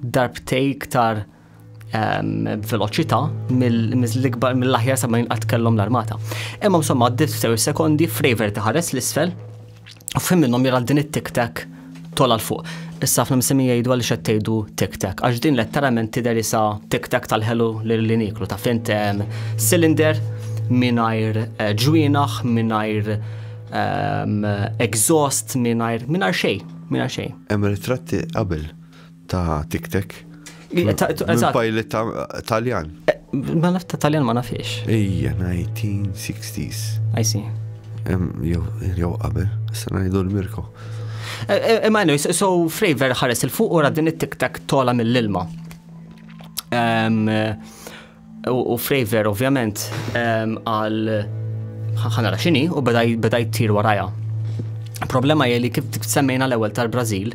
darbtej iktar b'veloċità mill-ikbar mill-aħjar sa ma jinqatt kellhom l-armata. Imma insomma għaddit sew sekondi Fraver taħares l-isfel u fim minnhom jara din it-tiktak tola l-fuq. Issa fl msemmi jgħidu għal xed tgħidu tiktak, għax din letteralment tidher isa tiktak tal-ħelu li niklu ta' fint cylinder mingħajr eh, ġwienaħ, mingħajr exhaust, mingħajr mingħajr xejn, mingħajr xejn. Hemm ritratti qabel Ta' tiktek. Il-pilot Taljan. Eh, ma naf ta' Taljan ma nafiex. Ija, 1960s. I see. Jow qabel, s-sanajdu l-Mirko. Imma eh, eh, so Fravor ħares il-fuq u din it-tiktek tola mill-ilma. U Fravor ovvjament għal ħanara xini u beda jtir waraja. Problema jeli kif semmejna l-ewel tal-Brazil,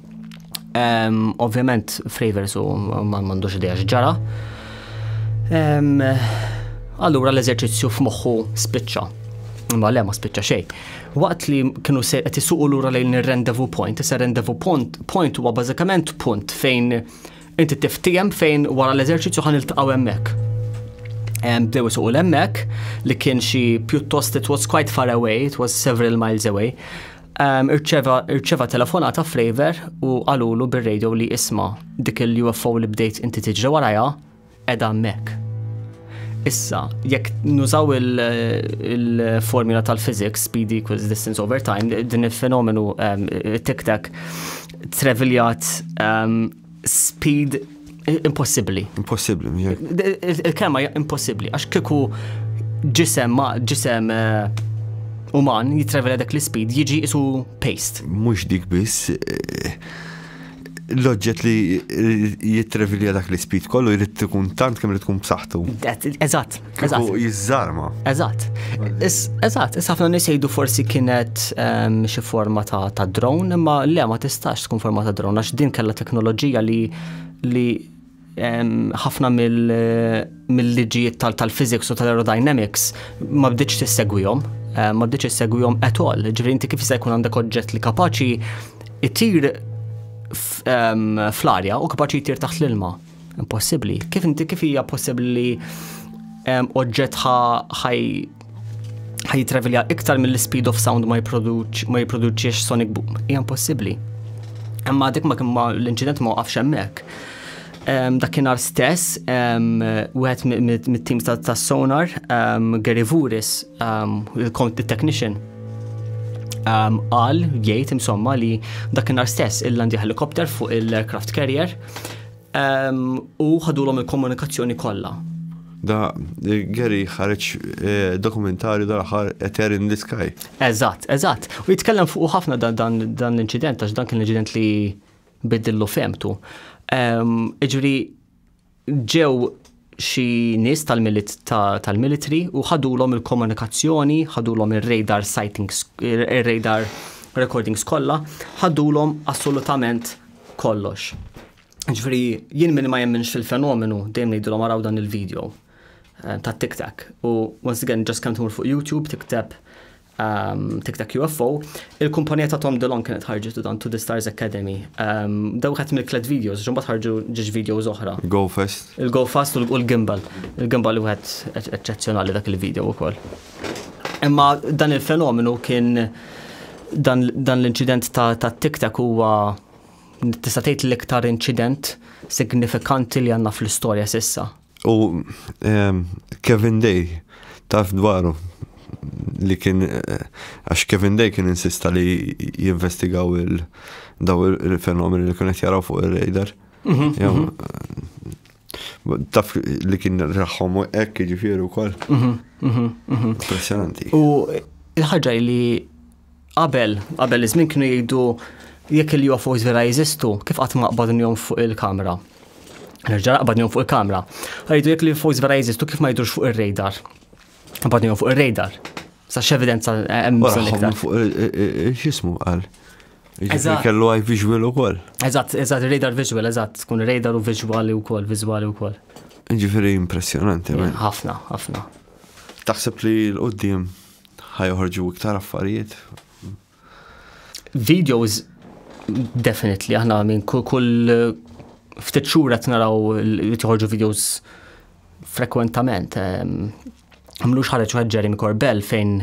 Ovvjament, Fravers u ma mandux idea x'ġara. Allura l-eżerċizzju f'moħħu spiċċa. Ma le ma spiċċa xejn. Waqt li kienu se qed isuqu lura lejn ir-rendezvous point, issa rendezvous point point huwa bażikament punt fejn inti tiftijem fejn wara l-eżerċizzju ħan iltaqgħu hemmhekk. Bdew isuqu l-hemmhekk li kien xi pjuttost it was quite far away, it was several miles away. Irċeva telefonata f'Raver u qalulu bir-radio li isma dik il-UFO li bdejt inti tiġri warajha edha mek. Issa, jekk nużaw il-formula tal-physics, speed equals distance over time, din il-fenomenu tic-tac treviljat Speed impossibbli. Impossibbli, Il-kelma hija impossibbli għax kieku ġisem ma ġisem eh, uman jitrevela dak l-speed jiġi isu paste. Mhux dik biss eh, l-oġġett li jitrevilja dak l-ispid kollu jrid tkun tant kemm li tkun b'saħħtu. Eżatt, Eżatt. Jizzarma. Eżatt. Eżatt, issa ħafna nies jgħidu forsi kienet ehm, xi forma ta' drone, imma le ma tistax tkun forma ta' drone għax din kellha teknoloġija li li ehm, ħafna mill-liġijiet tal-physics u tal-aerodynamics ma bdiċ tissegwihom, eh, ma bdiċ tissegwihom at all. Ġifieri inti kif jista' jkun għandek oġġett li kapaċi itir ehm, fl-arja u kapaċi jtir taħt l-ilma. Impossibbli. Kif inti kif hija possibbli li ehm, oġġett ħaj ħajtravilja iktar mill-speed of sound ma jipproduċiex sonic boom. Hija impossibbli. Imma dik ma kimma l-inċident ma waqafx hemmhekk. Ehm, dakinhar stess, ehm, wieħed mit-teams ta' sonar, Gary Vuris, il-technician, għal jgħid imsomma li dakinhar stess il-landi helikopter fuq il-aircraft carrier u ħadulhom il-komunikazzjoni kollha. Da eh, Gary ħareġ eh, dokumentarju dal-aħħar Eter in the Sky. Eżatt, eżatt. U jitkellem fuq ħafna dan l-inċident għax dan kien l-inċident li bidillu femtu. Iġri ġew xi nies tal-milit tal-military u ħadulhom il-komunikazzjoni, ħadulhom ir-radar sightings, ir-radar recordings kollha, ħadulhom assolutament kollox. Ġifieri jien min ma jemminx fil-fenomenu dejjem ngħidilhom araw dan il-video eh, ta' TikTok. U once again just kemm tmur fuq YouTube tikteb um, Tic Tac UFO, il-kumpanija ta' Tom DeLong kienet ħarġet u dan To The Stars Academy. Um, daw ħadd mill-klet videos, ġumbat ħarġu ġiġ videos oħra. Go Fest. Il-Go Fast u l-Gimbal. Il-Gimbal u għed eccezjonali dak il-video u koll. Imma dan il-fenomenu kien dan, dan l-incident ta', ta Tic Tac huwa tista' tgħid l-iktar incident signifikanti li għandna fl-istorja sissa. U ehm, Kevin Day, taf dwaru li kien għax Kevin Day kien insista li jinvestigaw il- daw il-fenomeni li kienet jaraw fuq il-radar. Mhm, mhm. Taf li kien raħħom u ekk ġifiri u koll. Mhm, Impressionanti. U il-ħagġa li Qabel, qabel iż-żmien kienu jgħidu jekk il-UFOs vera jeżistu, kif qatt ma qbadnihom fuq il-kamera? Nerġa' qbadnihom fuq il-kamera. Għajdu jekk l-UFOs vera jeżistu, kif ma jidhux fuq ir-radar? Qbadnihom fuq ir-radar. Sa x'evidenza hemm bżonn iktar? Fuq x'ismu qal? Eżatt. Kellu għaj visual ukoll. Eżatt, eżatt, radar visual, eżatt, tkun radar u visuali wkoll, visuali wkoll. Ġifieri impressjonanti. Ħafna, ħafna. Taħseb li l-qoddim Ħa joħorġu iktar affarijiet. Videos definitely aħna minn kull ftit xhur qed naraw li toħorġu videos frekwentament. Ehm, Mlux ħareġ wieħed Jeremy Corbell fejn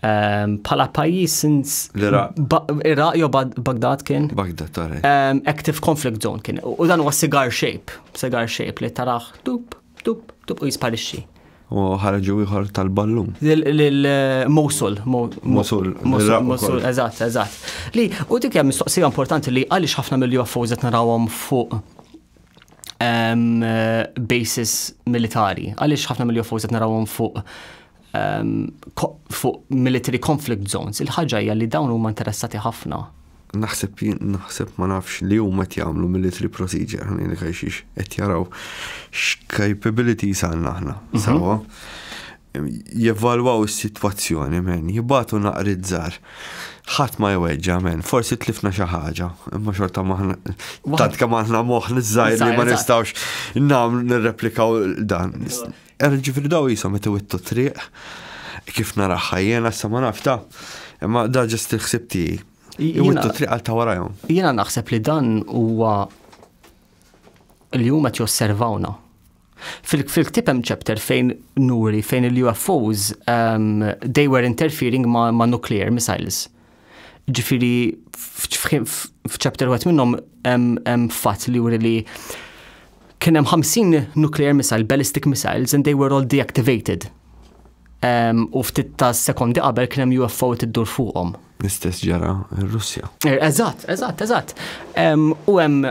Ehm, pala pajis since Iraq jo Baghdad kien. Baghdad, tare. Ehm, active conflict zone kien. U dan huwa cigar shape, cigar shape li taraħ dup. Tup, tup u jisparixxi. U ħarġu ieħor tal-ballun. Lil-Mosul. Mosul. Mosul, eżatt, eżatt. Li, u dik hija mistoqsija importanti li għaliex ħafna mill-UFOs qed narawhom fuq basis militari, għaliex ħafna mill-UFOs qed narawhom fuq um, fuq military conflict zones, il-ħaġa hija li dawn huma interessati ħafna. Naħseb naħseb ma nafx li huma qed jagħmlu military procedure ħanin li kajxiex qed jaraw x'capabilities għandna aħna. Mhm. Sawa. Jevalwaw is-sitwazzjoni men, jibatu naqri żgħar. Ħadd ma jweġġa men, forsi tlifna xi ħaġa, imma xorta maħna tant kemm aħna moħħ niżżajr li ma nistgħux nagħmlu nirreplikaw dan. Er ġifiri daw jisom qed iwittu triq kif naraħħa jiena sa ma naf ta' imma da ġest il-ħsib tiegħi. Iwittu triq għal ta' warajhom. Jiena naħseb li dan huwa l-jum qed josservawna. Fil-ktib hemm chapter fejn nuri fejn il-UFOs um, they were interfering ma, ma nuclear missiles. Ġifiri, f'ċapter għat minnom hemm fatt li juri li kien hemm 50 nuclear missile, ballistic missiles, and they were all deactivated. Um, u ftit ta' sekondi qabel kien hemm UFO tiddur fuqhom. L-istess ġara r-Russja. Er, eżatt, eżatt, eżatt. Um, u hemm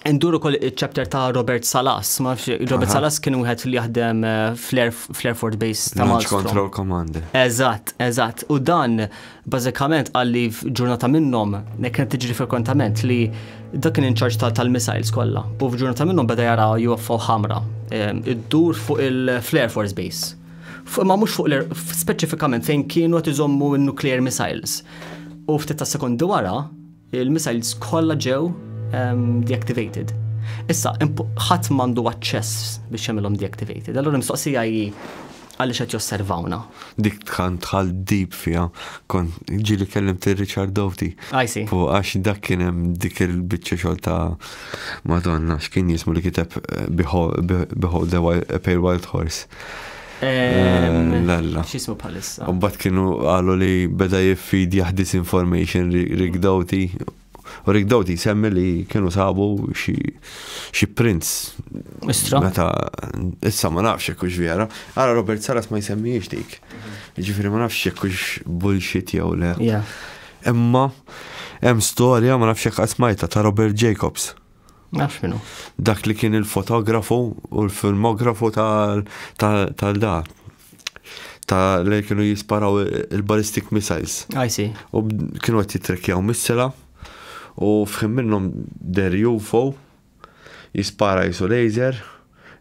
Ndur ukoll iċ-chapter ta' Robert Salas. Ma nafx, Robert Aha. Salas kien wieħed li jaħdem eh, fl-Air fl-Air Force Base ta' Launch Malmstrom. Control Commander. Eżatt, eżatt. U dan bażikament għal li f'ġurnata minnhom nek kienet tiġri frekwentament li dak kien inċarġ tal- tal-missiles kollha. U f'ġurnata minnhom beda jara UFO ħamra eh, iddur fuq il-Flare Force Base. Fu- Ma mhux fuq l speċifikament fejn kienu qed iżommu n-nuclear missiles. U ftit ta' sekondi wara, Il-missiles kollha ġew deactivated. Issa, ħadd m'għandu aċċess biex jagħmilhom deactivated. Allura mistoqsija hi għaliex qed josservawna. Dik tħan tħal deep fija, kon ġili kellim ti Richard Dowti. Għajsi. Fu għax dak kien hemm dik il-bicċa xol ta' Madonna, x'kien jismu li kiteb eh, Behold the Pale Wild Horse. Lalla. Xismu bħalissa. U bat kienu għalu li beda jiffid jahdis information rigdawti. U rigdawti semmi li kienu sabu xi prints. Istra. Meta, issa ma nafx kux vera. Għara Robert Saras ma jsemmiex dik. Ġifiri ma nafx kux bullshit jew le. Imma, hemm storja ma nafx jekk ta' Robert Jacobs. Nafx minnu. Dak li kien il-fotografu u l-filmografu tal-da. Ta' li kienu jisparaw il-ballistic missiles. I see. U kienu għet jitrekjaw missila u fħim minnom der UFO jispara jisu laser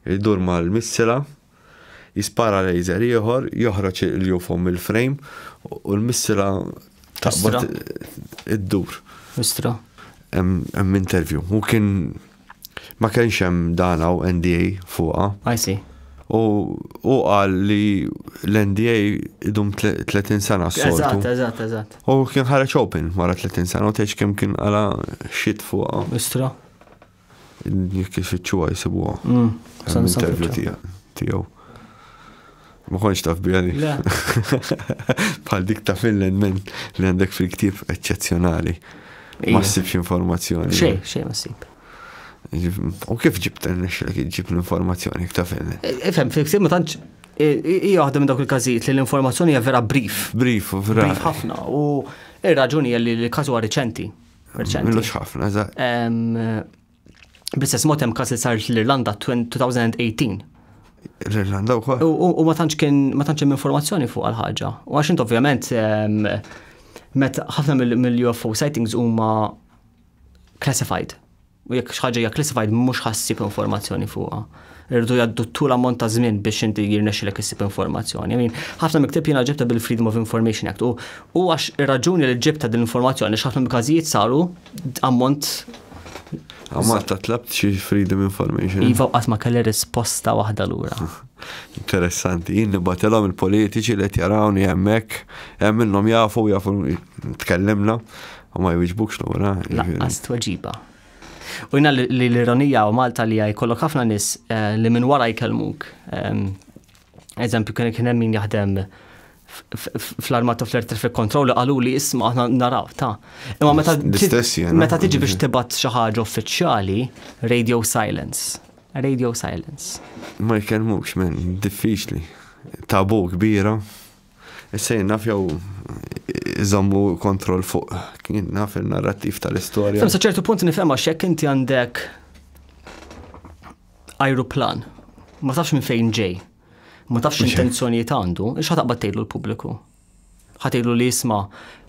jidur ma' l-missila. Jispara laser ieħor, joħroġ il-UFO mill-frame u l-missra taqbad iddur. Missra. Hemm interview. U kien ma kienx hemm dan hawn NDA fuqha. I see. U u qal li l-NDA idum 30 sena s-soltu. Eżatt, eżatt, eżatt. U kien ħareġ open wara 30 sena u tgħidx kemm kien għala shit fuqha. Istra. Jekk ifittxuha jsibuha. Mm. Sa nista' Intervju nfittxu. tiegħek tiegħu. Ma kontx taf biha li. Le. Bħal dik ta' Finland men li għandek fil-ktieb eċċezzjonali. Ma Ija. ssibx informazzjoni. Xejn, xejn ma ssib. U kif ġibt nexxilek iġġib l-informazzjoni ta' Finland? E- Ifhem, fil-ksib ma tantx i- i- hija waħda minn dawk il-każijiet li l-informazzjoni hija vera brief. Brief u vera. Brief ħafna u ir-raġuni hija li l-każ huwa riċenti. Mhux ħafna, za. Bl-istess mod hemm każ li saret l-Irlanda 2018. L-Irlanda wkoll. U ma tantx kien ma tantx hemm informazzjoni fuq għal-ħaġa. U għax int ovvjament meta ħafna mill-UFO sightings huma classified. u jekk xi ħaġa hija classified mhux ħa ssib informazzjoni fuqha. Irridu jgħaddu tul ammont ta' żmien biex inti jirnexxilek issib informazzjoni. Min ħafna miktib jiena ġibta bil-Freedom of Information Act u u għax ir-raġuni li ġibta din l-informazzjoni x'ħafna mill-każijiet saru ammont Għamat ta' tlabt xi Freedom Information. Iva qatt ma kelli risposta waħda lura. Interessanti, jien nibatelhom il-politiċi li qed jarawni hemmhekk, hemm minnhom jafu jafu tkellimna, U ma jwiġbukx lura. Laqqas tweġiba. U jina li l-ironija u Malta li jkollok ħafna nis eh, li minn wara jkellmuk. Ehm, eżempju, kien hemm min jaħdem fl-armata fl-air traffic control għalu li isma aħna naraw ta' imma meta meta tiġi biex tibat xi ħaġa uffiċjali radio silence radio silence ma jkellmux men diffiċli tabu kbira Sejn naf jew iżommu kontroll fuq kien naf il-narrattiv tal-istorja. Fem sa ċertu punt nifhem għax jekk inti għandek ajruplan, ma tafx minn fejn ġej, ma tafx intenzjonijiet għandu, ix ħataqbad tgħidlu l-pubbliku. Ħatgħidlu li jisma'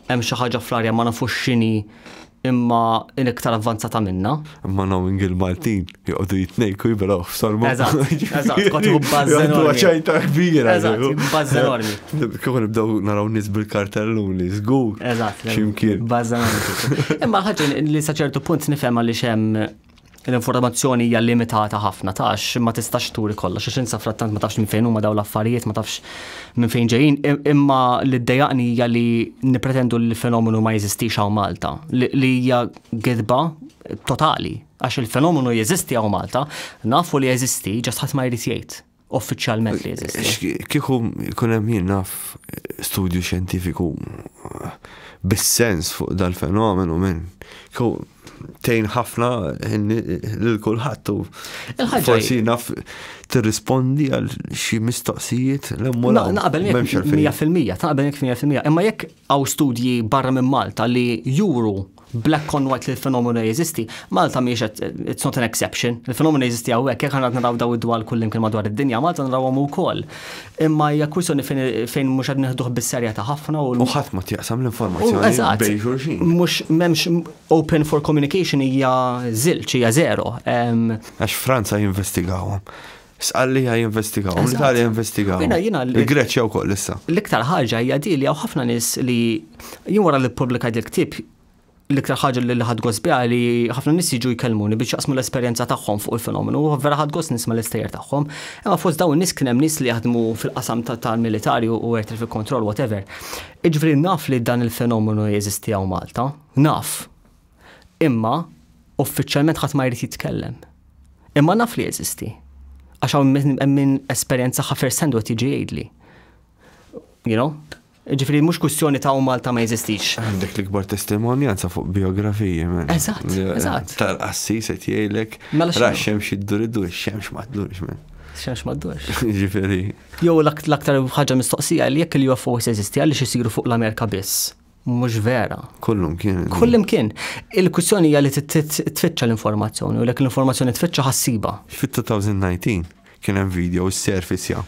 Hemm xi ħaġa fl-arja ma nafux x'inhi imma in iktar avvanzata minna. Imma knowing il-Maltin joqogħdu jitnejku jiberaw f'salma. Eżatt, eżatt, kont iħu bażżen. Għandu ċajta kbira. Eżatt, bażżen ormi. Kieku nibdew naraw nies bil-kartelluni, żgur. Eżatt. Ximkien. Bażżen ormi. Imma ħaġa li sa ċertu punt nifhem għaliex hemm l-informazzjoni hija limitata ħafna tax ma tistax turi kollox għax insa frattant ma tafx minn fejn huma daw l-affarijiet ma tafx minn fejn ġejjin imma li ddejaqni hija li nippretendu li l-fenomenu ma jeżistix hawn Malta li hija gidba totali għax il-fenomenu jeżisti hawn Malta nafu li jeżisti ġast ħadd ma jrid jgħid. uffiċjalment li jeżisti. Kieku jkun hemm jien naf studju xjentifiku bis-sens fuq dal-fenomenu minn tejn ħafna lil kulħadd u forsi naf tirrispondi għal xi mistoqsijiet l-emmolaw. Naqbel 100% taqbel 100%. Imma jekk Hawn studji barra minn Malta li juru black on white li l-fenomenu jeżisti. Malta mhijiex it's not an exception. Il-fenomenu jeżisti hawnhekk, jekk għandna naraw daw id-dwal kullimkien madwar id-dinja, Malta narawhom ukoll. Imma hija kwistjoni fejn mhux qed nieħduh bis-serjetà ħafna u U ħadd ma tjaqsam l-informazzjoni bejn xulxin. Mhux m'hemmx open for communication hija żilġ, hija zero. Għax Franza jinvestigawhom. Sqal li jinvestigaw, l-Italja jinvestigaw. Il-Greċja wkoll issa. L-iktar ħaġa hija di li hawn ħafna nies li jien wara li ppubblikajt il-ktieb l-iktar ħaġa li ħad gosbija li ħafna nis jiġu jkellmuni biex jaqsmu l-esperjenza tagħhom fuq il-fenomenu, u vera ħad gost nisma' l-istejjer tagħhom. Imma fost dawn nis kien hemm nies li jaħdmu fil-qasam tal-militari u air traffic control whatever. Iġveri naf li dan il-fenomenu jeżisti għaw Malta, naf, Imma uffiċjalment ħadd ma jrid jitkellem. Imma naf li jeżisti. Għax hawn hemm min esperjenzaha first hand u qed jiġi jgħidli. You know? Ġifieri mhux kwistjoni ta' u Malta ma jeżistix. Għandek l-ikbar testimonjanza fuq biografiji minn. Eżatt, eżatt. Tal-qassis qed jgħidlek. Mela xi. Raxxem xi ddur iddur, xemx ma ddurx minn. Xemx ma ddurx. Ġifieri. Jew l-aktar ħaġa mistoqsija li jekk il-UFOs jeżisti għaliex isiru fuq l-Amerika biss. mhux vera. Kullum kien. Kullum kien. Il-kwistjoni hija li tfittxa l-informazzjoni u lek l-informazzjoni tfittxa ħassiba. Fit-2019 kien hemm video s-surface ja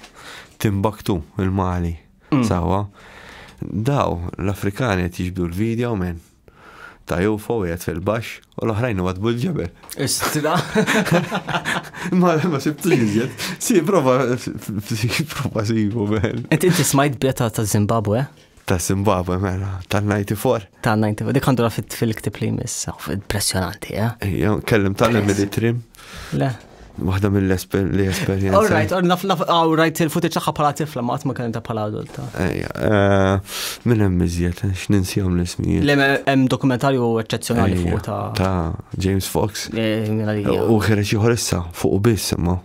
timbaktu il-Mali. Mm. Sawa. Daw l-Afrikani qed jiġbdu l-video minn ta' UFO jgħet fil-bax u l-oħrajn għad bil-ġebel. Istra. Ma ma sibtu jizjet. Si prova prova sibu ben. Inti inti smajt beta ta' Zimbabwe? Ta' Zimbabwe mela, tal-94. Tal-94, dik għandura fil-ktib li jmiss, impressjonanti, eh? Ejja, kellim tal-Emily Trim. Le. Waħda mill-esperienza. All right, or naf naf, all right, il-footage tagħha bħala tifla ma ma kellem ta' bħala adulta. Ejja, eh, minn hemm iżjed, eh, x'ninsihom l-ismijiet. Le hemm dokumentarju eċċezzjonali fuq ta' ta' James Fox. Eh, u ħereġ ieħor issa fuq biss imma.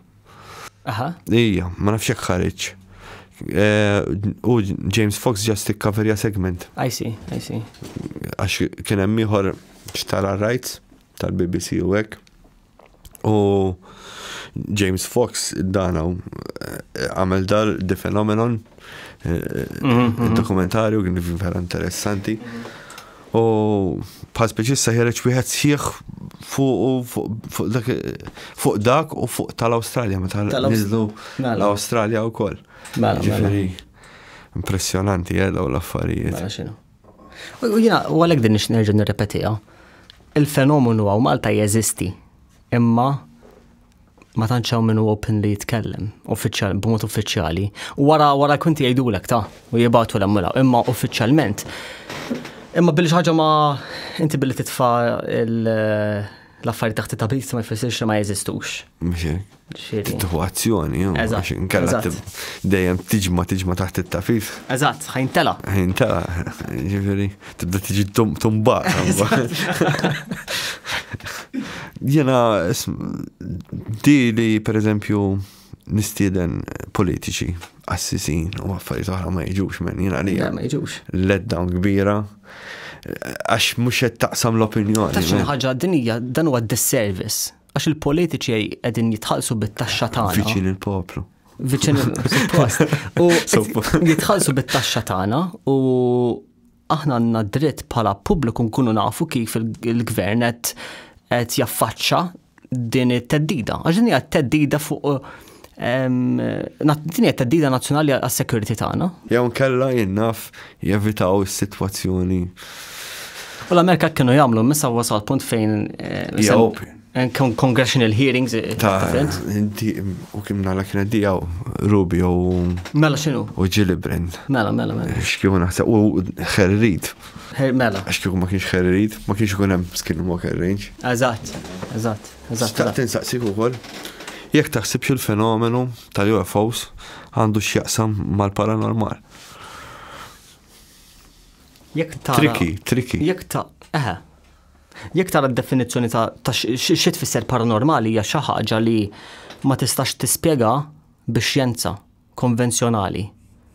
Aha. Ija, ma nafx jekk ħareġ. Eh, u James Fox ġast ikkaverja segment. I see, I see. Għax kien hemm ieħor xtara rights tal-BBC u hekk. U James Fox danaw eh, għamel dar The Phenomenon, eh, mhm, mhm. dokumentarju kien vera interessanti. U bħal spiċi issa ħereġ wieħed sħiħ fuq dak u fuq tal-Awstralja meta niżlu mela. l-Awstralja wkoll. Mela, mela. Ġifieri impressjonanti eh, daw l-affarijiet. Mela, u jina, u għalek din nerġa nirrepetija, il-fenomenu għaw Malta jeżisti, imma ma tantx hawn minnu open li jitkellem, uffiċjal, b'mod uffiċjali, u wara wara kunti jgħidulek ta' u jibatu l mura, imma uffiċjalment. Imma billi ħaġa ma inti billi titfa l-affarijiet taħt it-tabis ma jfissirx li ma jeżistux. Titħu azzjoni, għax inkella dejjem tiġma tiġma taħt it-tafif. Eżatt, ħajntela. Ħajntela, ġifieri. tibda tiġi tumbat. Jena, di li per eżempju nistieden politiċi, assisin u affarijiet oħra ma jiġux minn jena li. Ma jiġux. Let down kbira għax mhux qed taqsam l-opinjoni. Ta' xi ħaġa dinija dan huwa disservice għax il-politiċi qegħdin jitħallsu bit-taxxa tagħna. Viċin il-poplu viċin il-post. U jitħalsu bit-taxxa tagħna u Aħna għandna dritt bħala pubbliku nkunu nafu kif il-gvern qed qed jaffaċċa din it-teddida. Għax din hija teddida fuq din hija teddida nazzjonali għas-security tagħna. Jew nkella jinnaf jevitaw is-sitwazzjoni. U l-Amerika kienu jagħmlu missa wasal punt fejn. Eh, And congressional hearings. Eh, ta' inti u kim nala kienet di għaw Rubi u. Mela xinu? U Ġili Brand. Mela, mela, mela. Eh, xkiju naħseb u xerrid. Mela. Xkiju ma kienx xerrid, ma kienx ikun hemm skin walk range. Eżatt, eżatt, eżatt. Staqt insaqsik ukoll. Jekk taħsibx il-fenomenu tal-UFOs għandu x'jaqsam mal-paranormal. Jekk ta' Triki, triki. Jekk ta' eħe. Jekk tara d-definizzjoni ta' xi tfisser paranormali hija xi ħaġa li ma tistax tispjega bix-xjenza konvenzjonali.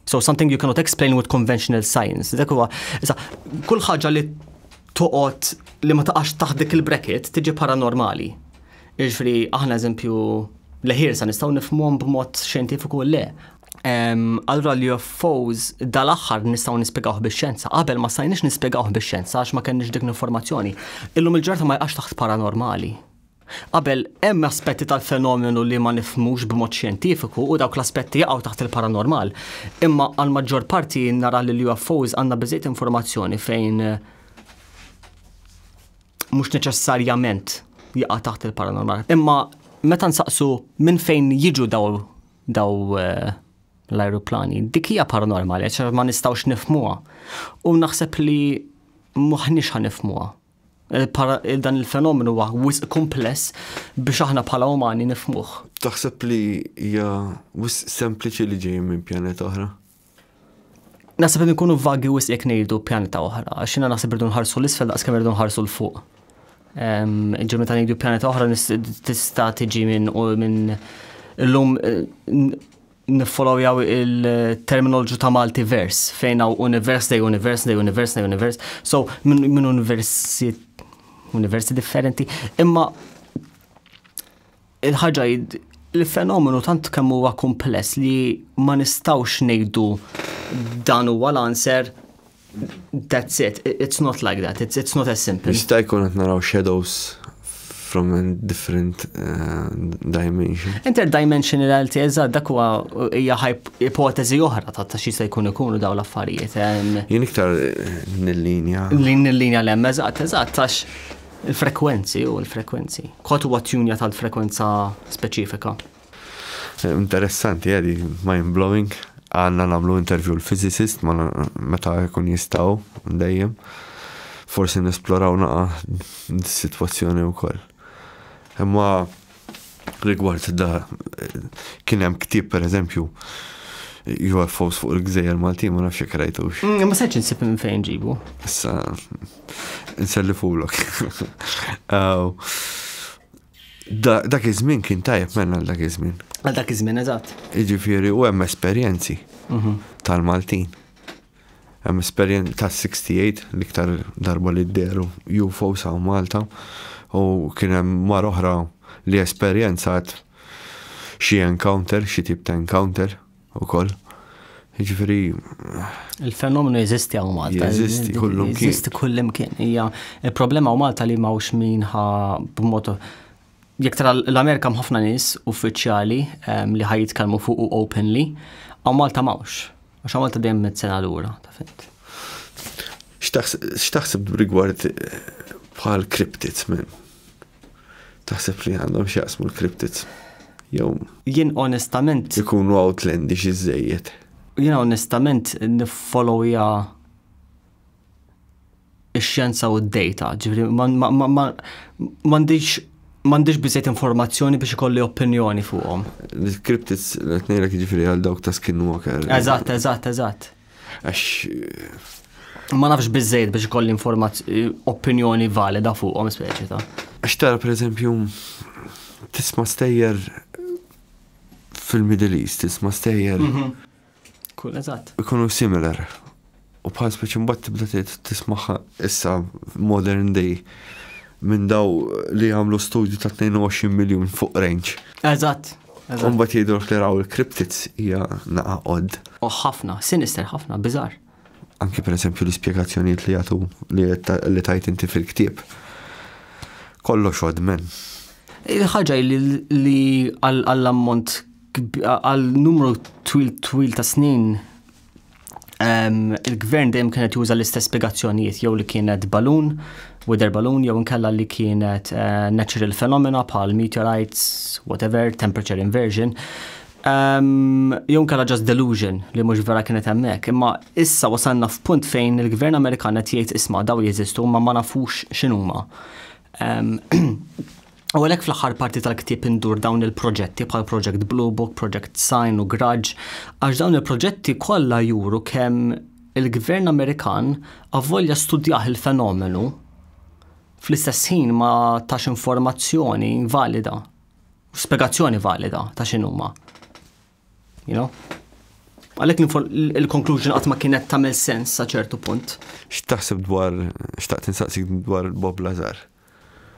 So something you cannot explain with conventional science. Dak huwa, issa, kull ħaġa li toqgħod li ma taqax taħt dik il-bracket tiġi paranormali. Jiġri aħna eżempju leħir sa nistgħu nifhmuhom b'mod xjentifiku le. Allura li UFOs dal-aħħar nistgħu nispjegawh bix-xjenza, qabel ma stajniex nispjegawh bix-xjenza għax ma kenniex dik l-informazzjoni. Illum il-ġurnata ma jqax taħt paranormali. Qabel hemm aspetti tal-fenomenu li ma nifmux b'mod xjentifiku u dawk l-aspetti jaqgħu taħt il-paranormal. Imma għal maġġor parti nara li l-UFOs għandna biżejt informazzjoni fejn eh, mhux neċessarjament jaqa' taħt il-paranormal. Imma meta nsaqsu minn fejn jiġu daw daw eh, l-ajruplani. Dik hija paranormali, għax ma nistgħux nifmuha. U naħseb li m'aħniex ħanifmuha. Dan il-fenomenu huwa wisq kumpless biex aħna bħala umani nifmuh. Taħseb li hija wisq sempliċi li ġej minn pjaneta oħra? Nasib li nkunu vagi wis jekk ngħidu pjaneta oħra, għax jiena naħseb irdu nħarsu l-isfel daqs kemm irdu nħarsu l-fuq. Ġemmi ta' ngħidu pjaneta oħra tista' tiġi minn minn illum eh, niffollow jaw il-terminoloġu ta' Malti vers, fejn hawn univers dej univers dej univers dej univers, so minn universi universi differenti, imma Il-ħaġa li fenomenu tant kemm huwa kumpless li ma nistawx ngħidu dan huwa l-answer that's it, it's not like that, it's, it's not as simple. Jista' jkun qed naraw shadows from a different uh, dimension. Interdimensionality, eżatt, dak huwa hija ipoteżi oħra ta' ta' xi se jkun ikunu dawn l-affarijiet. Jien iktar eh, nil-linja. Lin nil-linja l-hemm, eżatt, eżatt, għax Il-frekwenzi u l-frekwenzi. Kod huwa tjunja tal-frekwenza speċifika. Interessanti, għedi, eh, mind-blowing. Għanna namlu intervju l-fizicist, ma meta jkun jistaw, dejjem. Forsi nesploraw naqa situazzjoni u koll. Imma Rigward da kien hemm ktieb pereżempju UFOs fuq il-gżejjer Maltin ma nafx krajtux. Mm, ma seċ insib minn fejn ġibu. Issa nselli fulok. Dak iż-żmien kien tajjeb menna għal dak iż-żmien. Għal dak iż-żmien eżatt. Jiġifieri u hemm esperjenzi mhm. tal-Maltin. Hemm esperjenza ta' 68 l-iktar darba li dehru UFOs hawn Malta u kien hemm mara oħra li esperjenzat xi encounter, xi tip ta' encounter ukoll. Jiġifieri Il-fenomenu jeżisti hawn Malta. Jeżisti kullum kien. Jeżisti kullum kien. Hija il-problema hawn Malta li m'hawnx min ħa b'mod jekk tara l-Amerika ħafna nies uffiċjali ehm, li ħaj jitkellmu fuq openly, hawn Malta m'hawnx. Għax Malta dejjem met sena lura, ta' fint. X'taħseb rigward eh, bħal kriptiz minn? Taħseb li għandhom x'jaqsmu l-kriptiz? Jew. Jien onestament. Ikunu outlandish iżejjed. Jien onestament nifolowja ix-xjenza u d-data, ġifri m'għandix m'għandix biżejt informazzjoni biex ikolli opinjoni fuqhom. L-cryptids qed ngħidlek jiġifieri għal dawk ta' skinwalker. Eżatt, eżatt, eżatt. Għax ma nafx biżejt biex ikolli opinjoni valida fuqhom speċi ta'. Għax tara pereżempju tisma' stejjer fil-Middle East, tisma' stejjer. Mhm. Kun eżatt. Ikunu similar. U bħal speċi mbagħad tibda tismaħħa issa modern day minn daw li għamlu studju ta' 22 miljun fuq range. Eżatt. Umbat jgħidu li raw il-kriptids hija naqa odd. U ħafna, sinister ħafna, bizar. Anki per esempio l-ispjegazzjonijiet li jagħtu li tajt inti fil-ktieb. Kollox odd men. Il-ħaġa li għall-ammont għal numru twil twil ta' snin il-gvern dejjem kienet juża l-istess spiegazzjonijiet jew li kienet balun, weather balun jew inkella li kienet eh, natural phenomena bħal meteorites, whatever, temperature inversion. Um, jew inkella just delusion li mhux vera kienet hemmhekk, imma issa wasalna f'punt fejn il-Gvern Amerikan qed jgħid isma' daw jeżistu ma ma nafux x'inhuma. Um, U għalhekk fl-aħħar parti tal-ktieb indur dawn il-proġetti bħal Project Blue Book, Project Sign u Grudge, għax dawn il-proġetti kollha juru kemm il-Gvern Amerikan avvolja studjah il-fenomenu fl-istess ħin ma tax informazzjoni valida, spiegazzjoni valida ta' x'inhuma. You know? Għalek il-conclusion għatma kienet tamel sens sa ċertu punt. X'taħseb dwar, xtaqt insaqsik dwar Bob Lazar?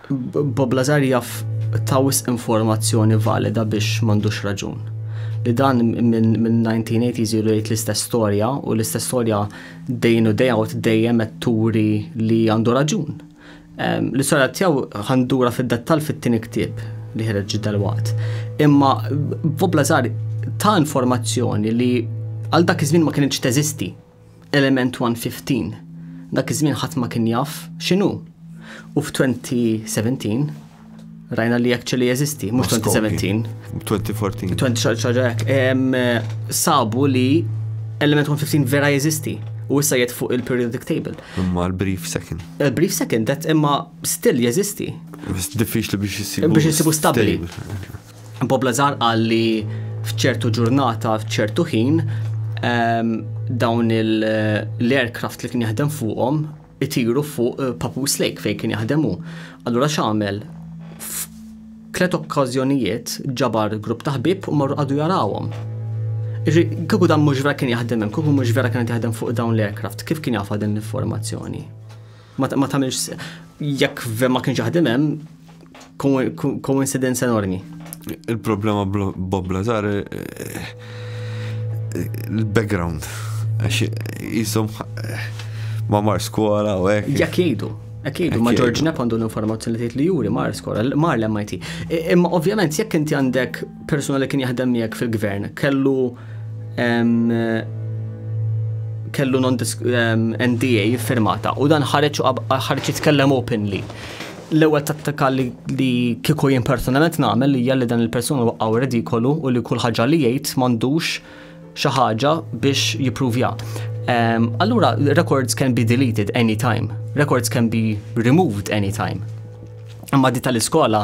Bob Lazar jaf ta' wisq informazzjoni valida biex m'għandux raġun. Li dan minn 1980s ilu jgħid l-istess storja u l-istess storja dejn u day out dejjem qed turi li għandu raġun. Ehm, l-istorja tiegħu għandura fid-dettall fit-tieni ktieb li ħereġ dalwaqt. Imma Bob Lazar ta' informazzjoni li għal dak iż-żmien ma kienx teżisti. Element 1:15 Dak iż-żmien ħadd ma kien jaf x'inhu. U f'2017 rajna li actually jeżisti, mhux 2017. 2014. 2014 sabu li element 115 vera jeżisti u issa jed fuq il-periodic table. Imma l-brief second. Il-brief eh, second, that imma still jeżisti. Diffiċli biex jisibu. Biex jisibu stabili. Bob Lazar qal li f'ċertu ġurnata, f'ċertu ħin, ehm, dawn l-aircraft li kien jaħdem fuqhom itiru fuq eh, Papus Lake fejn kien jaħdemu. Allura x'għamel? Tlet okkażjonijiet ġabar grupp ta' ħbib u marru għadu jarawhom. Kieku dan mhux vera kien jaħdem hemm, kieku mhux vera kien jaħdem fuq dawn l-aircraft, kif kien jafa din l-informazzjoni? Ma tagħmilx jekk ma kienx jaħdem hemm, Koincidenza enormi. Il-problema Bob Lazar eh, il-background. Għax jisom eh, ma mar skola u hekk. Jak jgħidu. Akidu, ma George Knapp għandu l-informazzjoni li li juri mar skola, mar l-MIT. Imma ovvjament jekk inti għandek persuna li kien jaħdem miegħek fil-gvern, kellu kellu non NDA firmata u dan ħareġ ħareġ jitkellem openly. L-ewwel tattika li li kieku jien personalment nagħmel hija li dan il-persuna waqgħu redikolu u li kull ħaġa li jgħid m'għandux xi ħaġa biex jippruvja. Ehm, allura, records can be deleted any time. Records can be removed any time. Imma di tal-iskola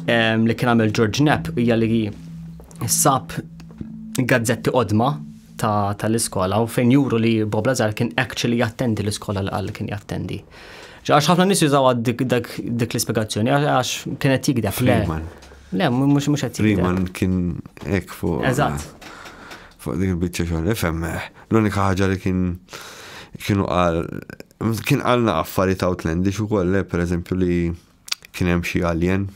ehm, li kien għamel George Knapp hija li sab gazzetti qodma tal-iskola u fejn juru li Bob Lazar kien actually jattendi l-iskola li għal kien jattendi. Għax ħafna nis jużaw dik l-ispiegazzjoni, għax kienet jikdef. Freeman. Le, mux mux għat Freeman kien ek fuq. Eżat. Fuq dik il-bicċa xogħol, ifhem. Eh, l-unika ħaġa li kien kienu għal kien għalna affarijiet outlandish ukoll, eh, per eżempju li kien hemm xi alien,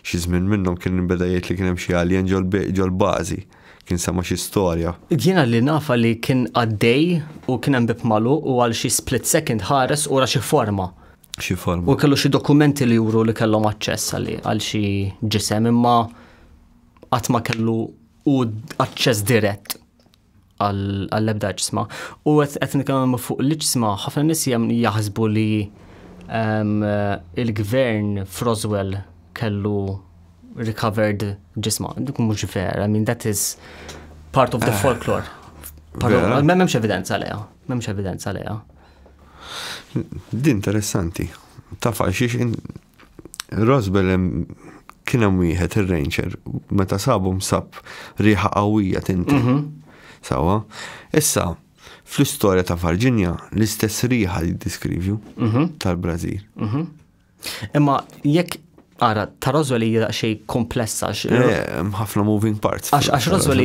xi żmien minnhom kien beda jgħid li kien hemm xi alien ġol-bażi, kien sama xi storja. Jiena li nafa li kien għaddej u kien hemm bib magħluq u għal xi split second ħares u ra xi forma. Xi forma. U kellu xi dokumenti li juru li kellhom aċċess għal xi ġisem imma qatt ma kellu u aċċess dirett. għall-ebda ġisma. U qed nitkellmu fuq l-ġisma, ħafna nies jaħsbu li ehm, il-gvern f'Roswell kellu recovered ġisma. Dik mhux vera, I mean that is part of the eh, folklore. M'hemmx evidenza leja, m'hemmx evidenza leja. Din interessanti. Taf għal xiex Rosbel kien hemm wieħed ir-ranger meta sabu msab riħa qawwija tinti. Mhm. Sawa. Issa, fl-istorja ta' Virginia, l-istess riħa li diskrivju mhm. tal-Brażil. Mhm. Imma jekk Ara, ta' Roswell hija xej komplessa. Ħafna moving parts. Għax għax Roswell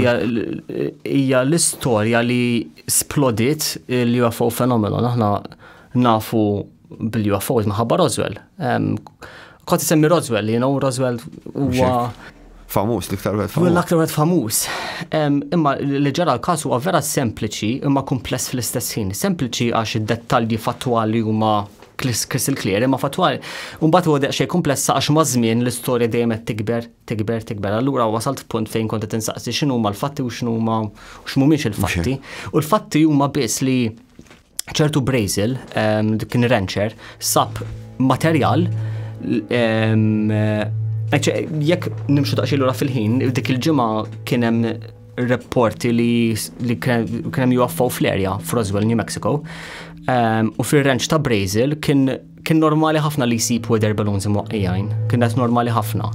hija l-istorja li splodit il-UFO fenomeno. Aħna nafu bil-UFOs maħabba Roswell. Kont semmi Roswell, you know, Roswell huwa. Famus, l-iktar wet famus. L-iktar wet famus. Imma li ġara l-kas huwa vera sempliċi imma kumpless fl-istess ħin. Sempliċi għax id-dettalji fattwali huma Crystal Clear, imma fatwal, unbat u għadek xej komplessa għax mażmien l-istoria dejjem qed tikber, tikber, tikber. Allura wasalt punt fejn kont qed insaqsi x'inhu huma l-fatti u x'inhu huma x'mhumiex il-fatti. U l-fatti huma biss li ċertu Brazil, ehm, dik kien rancher, sab materjal ehm, jekk nimxu daqxilu ra fil-ħin, dik il-ġimgħa kien hemm reporti li, li kien hemm UFO fl-erja f'Roswell, New Mexico. Ehm, u fir-ranch ta' Brazil kien kien normali ħafna li jsib weather balloons imwaqqijajn, kien qed normali ħafna.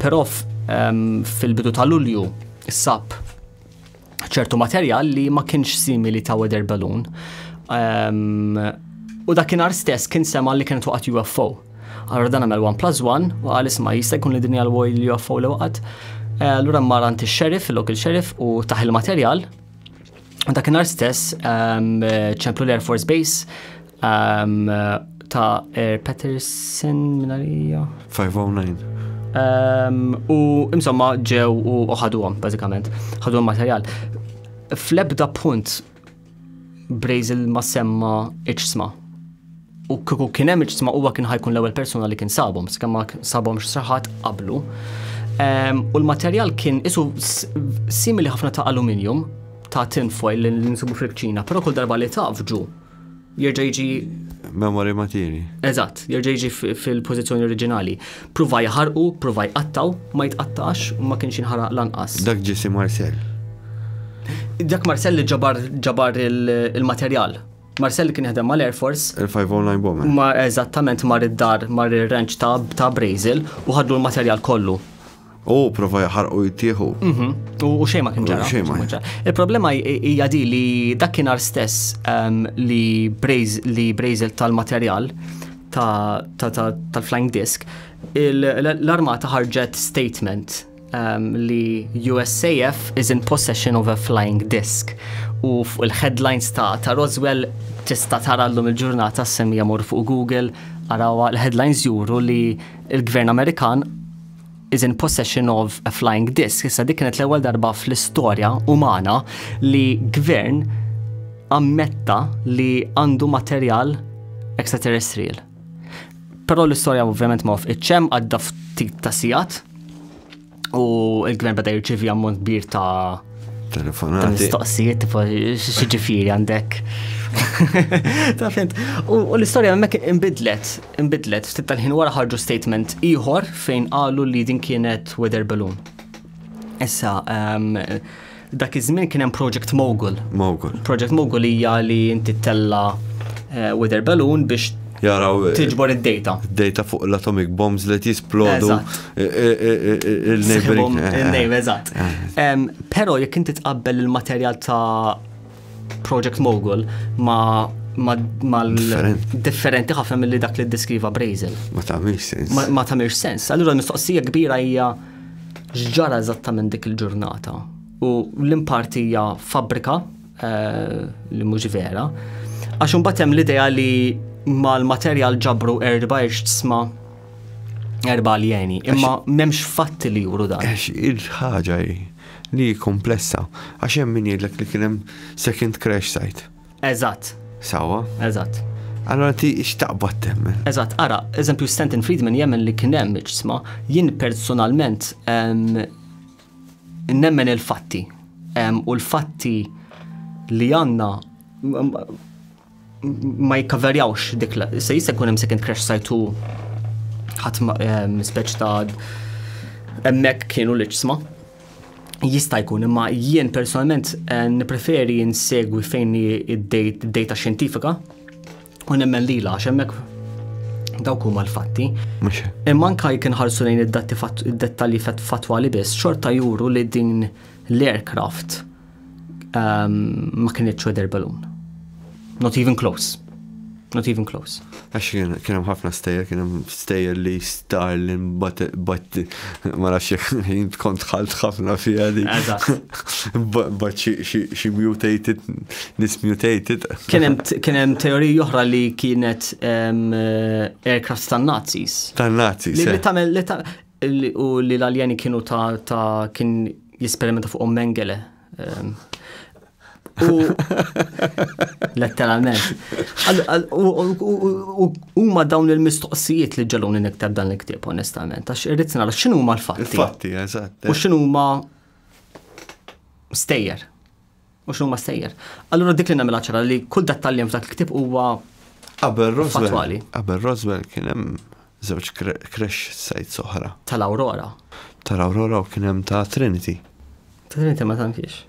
Però fil-bidu ta' Lulju sab ċertu materjal li ma kienx simili ta' weather balloon. Um, u dakinhar stess kien sema li kienet waqgħet UFO. Allora dan għamel 1 plus 1 u għal isma jista' jkun li dinja l-woj li UFO li waqgħet. Eh, allura mmar għand ix-xerif, il-lokal xerif u taħ il-materjal. Dakinhar stess ehm, ċemplu l-Air Force Base Um, ta' Er Patterson minarija. 509. Um, u insomma ġew u ħaduhom, bażikament. Ħaduhom materjal. Fl-ebda punt Brazel ma semma iċsma. U kiku kien hemm iċsma huwa kien ħajkun l-ewwel persuna li kien sabhom, skemma sabhom x'saħat qablu. Um, u l-materjal kien isu simili ħafna ta' aluminium ta' tinfoil li nsibu fil-ċina, pero kull darba li tafġu jerġa' jiġi Memory matini. Eżatt, jerġa' jiġi fil-pożizzjoni oriġinali. Pruva jaħarqu, pruva jqattaw, ma jitqattax u ma kienx inħaraq lanqas. Dak ġisi Marcel. Dak Marcel li ġabar ġabar il-materjal. Marcel kien jaħdem mal-Air Force. Il-509 bomber. Ma eżattament mar id-dar, mar ir-ranch ta' Brazel u ħadlu l-materjal kollu. U prova jaħarqu jittieħu. Mhm. U xejn ma kien ġara. Xejn ma ġara. Il-problema hija di li dakinhar stess ehm, li li Brazel tal-materjal tal-flying disc, l-armata ħarġet statement ehm, li USAF is in possession of a flying disc u fuq il-headlines ta' ta' Roswell tista' tara llum il-ġurnata semmi jamur fuq Google arawa l-headlines juru li il-gvern Amerikan is in possession of a flying disc. Issa dik kienet l-ewwel darba fl-istorja umana li gvern ammetta li għandu materjal extraterrestrial. Però l-istorja ovvjament ma fqitxem għadda ftit ta' sigħat u l-gvern beda jirċivi ammont kbir ta' Telefonati. Mistoqsijiet, tipo, xieġifiri għandek. Ta' fint. U l-istoria għemmek imbidlet, imbidlet, ftit tal-ħin wara ħarġu statement iħor fejn għallu li din kienet weather balloon. Issa, ehm, dak iż-żmien kien hemm Project Mogul. Mogul. Project Mogul hija li inti tella eh, weather balloon biex jaraw eh, tiġbor id-data. Data fuq l-atomic bombs li jisplodu. Il-neighboring. Il-neighbor, eżatt. Pero jekk inti tqabbel il-materjal ta' Project Mogul ma' mal-differenti ħafna mill-li dak li diskriva Brazel. Ma tamiex sens. Ma tamiex sens. Allura mistoqsija kbira hija ġġara eżattament dik il-ġurnata. U l-impartija fabrika eh, li mhux vera. Għax imbagħad hemm l-idea li mal-materjal ġabru erba' sma erba aljeni, imma memx fatti li juru dan. Għax il-ħaġa li komplessa, għax hemm min jgħidlek li kien hemm second crash site. Eżatt. Sawa? Eżatt. Allora ti xtaqbad temmen. Eżatt, ara, eżempju Stanton Friedman jemmen li kien hemm ġisma, jien personalment nemmen il-fatti. U l-fatti li għanna ma jikkaverjawx dik la, se jista' jkun hemm second crash site u ħadd ehm, speċ ta' hemmhekk kienu l-iġsma. Jista' jkun, imma jien personalment eh, nippreferi nsegwi fejn id-data xjentifika u nemmen lila għax hemmhekk dawk huma l-fatti. Imma anka jkun ħarsu lejn id-dettalji fatwali biss, xorta juru li din l-aircraft Um, ma kienet weather balloon. Not even close. Not even close. Għax kien hemm ħafna stejjer, kien hemm stejjer li Starlin bat ma nafx jekk kont ħalt ħafna fiha li. Bat xi mutated, nis mutated. Kien hemm teoriji oħra li kienet aircraft tan-Nazis. Tan-Nazis. Li eh. tagħmel u li l-aljeni kienu ta' ta' kien jisperimenta fuqhom Mengele. Ehm, u letteralment. U huma dawn il-mistoqsijiet li ġeluni niktab dan il-ktieb onestament, għax irrid nara x'inhu huma l-fatti. Il-fatti, eżatt. U eh. x'inhu huma stejjer. u x'inhuma s-sejjer. Allura dik li nagħmilha ċara li kull dettal li hemm f'dak il-ktieb huwa Qabel Roswell, qabel Roswell kien hemm żewġ crash sites oħra. Tal-Aurora. Tal-Aurora u kien hemm ta' Trinity. Ta' Trinity ma tantix.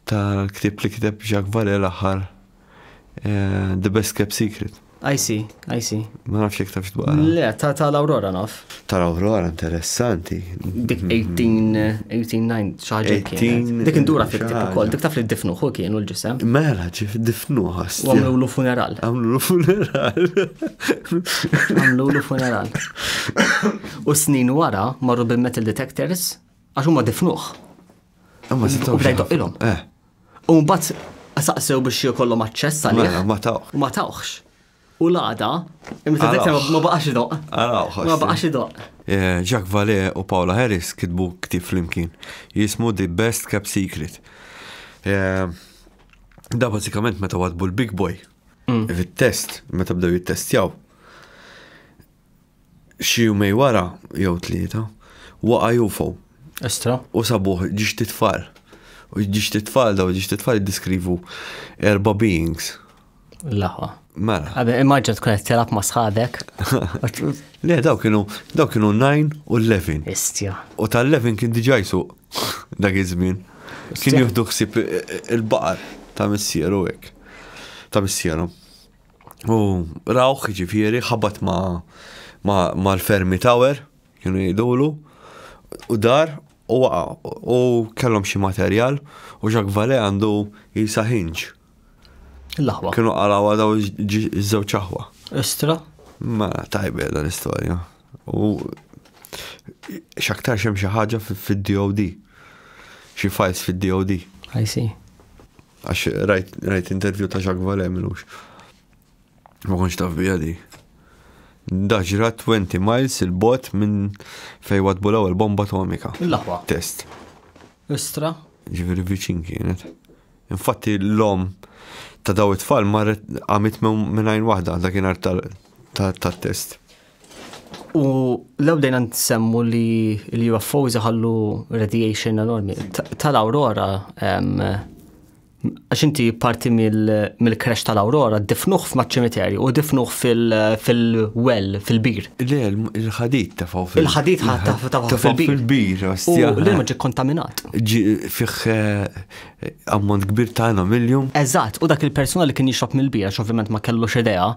Tal-ktieb li kiteb Jacques Vallée l-aħħar eh, The Best Kept Secret. I see, I see. Ma nafx jek tafx dwar. Le, ta' ta' l-Aurora naf. Ta' l-Aurora interessanti. Dik 18, 18, xaġa kien. Dik indura fik tip ukoll, dik taf li difnu hu kienu l-ġisem. Mela ġif difnu ħas. Għamlu lu funeral. Għamlu lu funeral. Għamlu lu funeral. U snin wara marru bil-metal detectors għax huma difnuħ. U bdejdu ilhom. Eh. U mbagħad saqsew biex jkollhom aċċess għalih. Mela, ma tawx. U ma tawx. U l-għada, imma dak ma baqax idoq. Ma baqax idoq. Eh, Jacques Vallée u Paula Harris kitbu ktif flimkien. Jismu The Best Cap Secret. Eh, da basikament meta wadbu l-Big Boy. Mm. Fit-test, meta bdew jittestjaw. Xi jumej wara, jew tlieta, waqa' UFO. Estra. U sabuh ġiġt tfal. U ġiġt tfal daw ġiġt tfal jiddiskrivu erba' beings. Laħwa. Mela. Għabbi, immaġġa tkun qed telab ma' sħabek. Le, daw kienu, daw kienu 9 u 11. Istja. U tal-11 kien diġà jsuq dak iż-żmien. Kien jieħdu ħsieb il-baqar ta' missieru hekk. Ta' missieru. U rawh ġifieri ħabat ma' ma' l-fermi tower, kienu jgħidulu, u dar u waqa' u kellhom xi materjal u Jacques Vallée għandu jisa hinġ. L-aħwa. Kienu qalaw għadaw iż-żewġ aħwa. Istra? Ma tajbe dan l-istorja. U xaktar xem xi ħaġa fid-DOD. Xi files fid-DOD. I see. Għax rajt intervju ta' Jacques Vallée minux. Ma konx taf bija di. Daġra 20 miles il-bot minn fej wadbulaw il-bomba atomika. Il-laħwa. Test. Istra. Ġifiri viċin kienet. Infatti l-lom ta' daw it-tfal marret għamit minn għajn wahda dak kien ta' test. U law dejna nsemmu li l-UFOs iħallu radiation enormi. Tal-Aurora, għax inti parti mill-crash tal-Aurora, difnuħ f'maċ-ċimiterju u difnuħ fil-well, fil-bir. Le, il-ħadit ta' fuq fil-bir. Il-ħadit ta' fuq fil-bir. U l-ilma ġi kontaminat. Fiħ eh, ammont kbir ta' għenam iljum. Eżatt, u dak il-persuna li kien jixrob mill-bierax ovvjament ma kellux idea,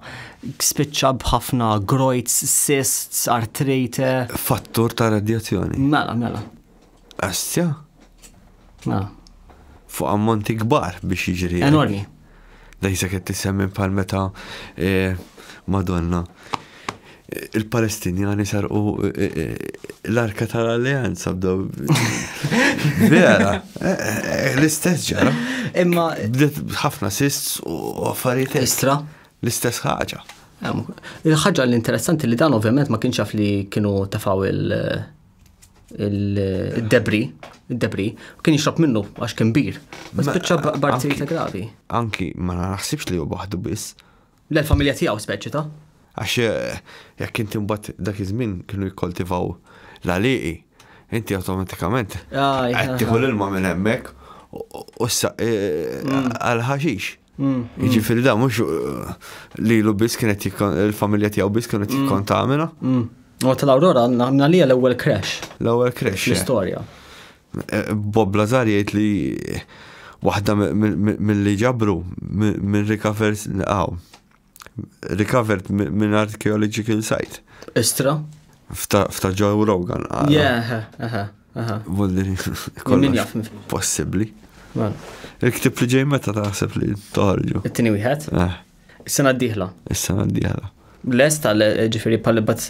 spiċċa b'ħafna grojts, cysts, artrite. Fattur ta' radjazzjoni. Mela, mela. Astja? Mela. Fuq ammonti kbar biex jiġri. Enormi. Dejsa qed tissemmi bħal meta Madonna il-Palestinjani sarqu l-arka tal-alleanza b'daw. Vera, l-istess ġara. Imma. Bdet ħafna sists u affarijiet. Istra. L-istess ħaġa. Il-ħaġa l-interessanti li dan ovvjament ma kienx jaf li kienu tafaw il- il-debri, il-debri, u kien jixrob minnu għax kien bir. Ma spiċċa b'artrijiet gravi. Anki ma naħsibx li huwa waħdu biss. L-familja tiegħu speċi ta'. Għax eh, jekk inti mbagħad dak iż-żmien kienu jikkoltivaw l-għalieqi, inti awtomatikament qed tieħu l-ilma minn hemmhekk u s-saq eh, mm. għal-ħaxix. Jiġifieri da mhux lilu biss kienet il-familja tiegħu biss kienet jikkontamina. U tal-Aurora għandna li l-ewwel crash. L-ewwel crash. L-istorja. Eh, Bob Lazar jgħid li waħda mill-li ġabru minn rikavers għaw. Recovered minn archaeological site. Istra? Fta Joe Rogan. Yeah, aha, aha. Vulli, kollox. Possibli. Il-ktib li ġej meta taħseb li toħorġu. It-tini wieħed? Eh. Is-sena d-dieħla. Is-sena d-dieħla. Lest għal ġifieri pal bat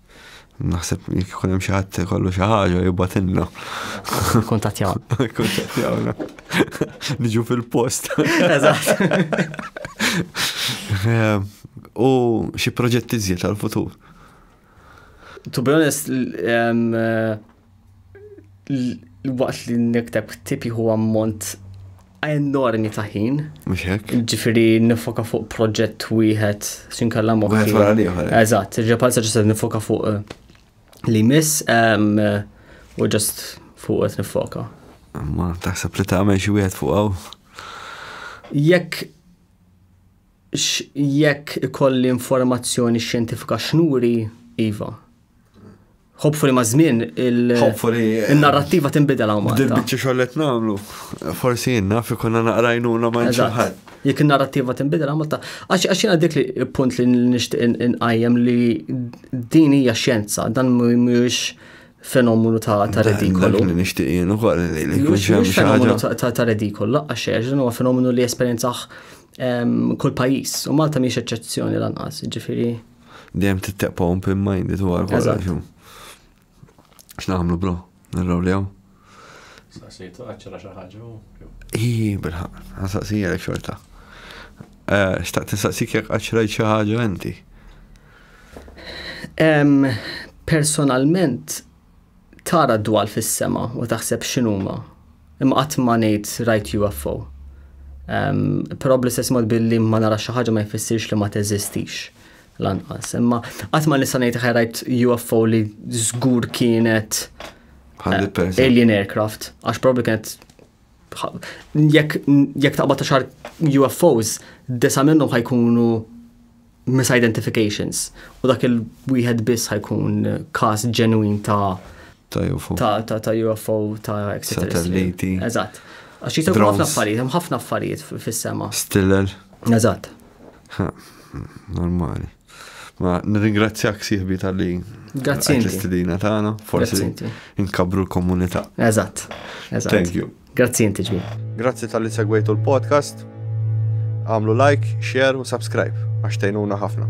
Naħseb jekk ikun hemm xi ħadd kollu xi ħaġa jibgħatilna. Kuntattjawna. Kuntattjawna. Niġu fil-post. Eżatt. Eh, u xi proġetti żjed għal-futur? To be honest, eh, waqt li nikteb ktib jieħu ammont enormi ta' ħin. Mhux hekk. Ġifieri nifoka fuq proġett wieħed x'inkella moħħi. Wieħed wara l-ieħor. Eżatt, ġepal sa ġiset nifoka fuq eh, li miss u ġast fuq qed nifoka. Ma taħseb li tagħmel xi wieħed fuq hawn? Jekk X' jekk ikolli informazzjoni xjentifika x'nuri, iva. Hopefully maż-żmien il- Hopefully. In-narrattiva tinbidel hawn Malta. Bil-biċċa xogħol li qed nagħmlu, forsi jien naf ikun għandna naqra għajnuna ma' xi ħadd. Jekk in-narrattiva tinbidel hawn Malta. Għax għax jiena dik li punt li nixtieq inqajjem li din hija xjenza, dan mhuwiex fenomenu ta' redikolu. Dak li nixtieq jien ukoll li jkun xemm xi ħaġa. Ta' redikolu laqqa xejn, dan huwa fenomenu li esperjenzaħ ehm, kull pajjiż u Malta mhix eċċezzjoni lanqas, ġifieri. Dejjem titteqpa open minded u għal kollox. X'nagħmlu bro? Nirraw li hawn. Saqsejtu għaċċara xi ħaġa u. Ii, bilħaq, għasaqsija xorta. Eh, xtaqt nistaqsik jekk għaċċrajt xi ħaġa inti. Personalment tara d-dwal fis-sema u taħseb x'inhuma. Imma qatt ma ngħid rajt UFO. Però bl-istess mod billi ma nara xi ħaġa ma jfissirx li ma teżistix lanqas. Imma qatt ma nista' ngħid ħaj rajt UFO li żgur kienet alien aircraft. Għax probabli kienet jekk taqbad ta' xar UFOs, disa minnhom ħajkunu misidentifications u dak il-wieħed biss ħajkun każ ġenwin ta' ta' UFO. Ta' ta' ta' UFO ta' Satelliti. Eżatt. Għax jitaw ħafna affarijiet, hemm ħafna affarijiet fis-sema. Stiller. Eżatt. Normali. Ma nirringrazzjak siħbi tal-li. Grazzi. L-istedina tagħna, forsi inkabru l-komunità. Eżatt. Thank you. Grazzi inti ġmil. Grazzi tal-li segwejtu l-podcast. Għamlu like, share u subscribe għax tejnuna ħafna.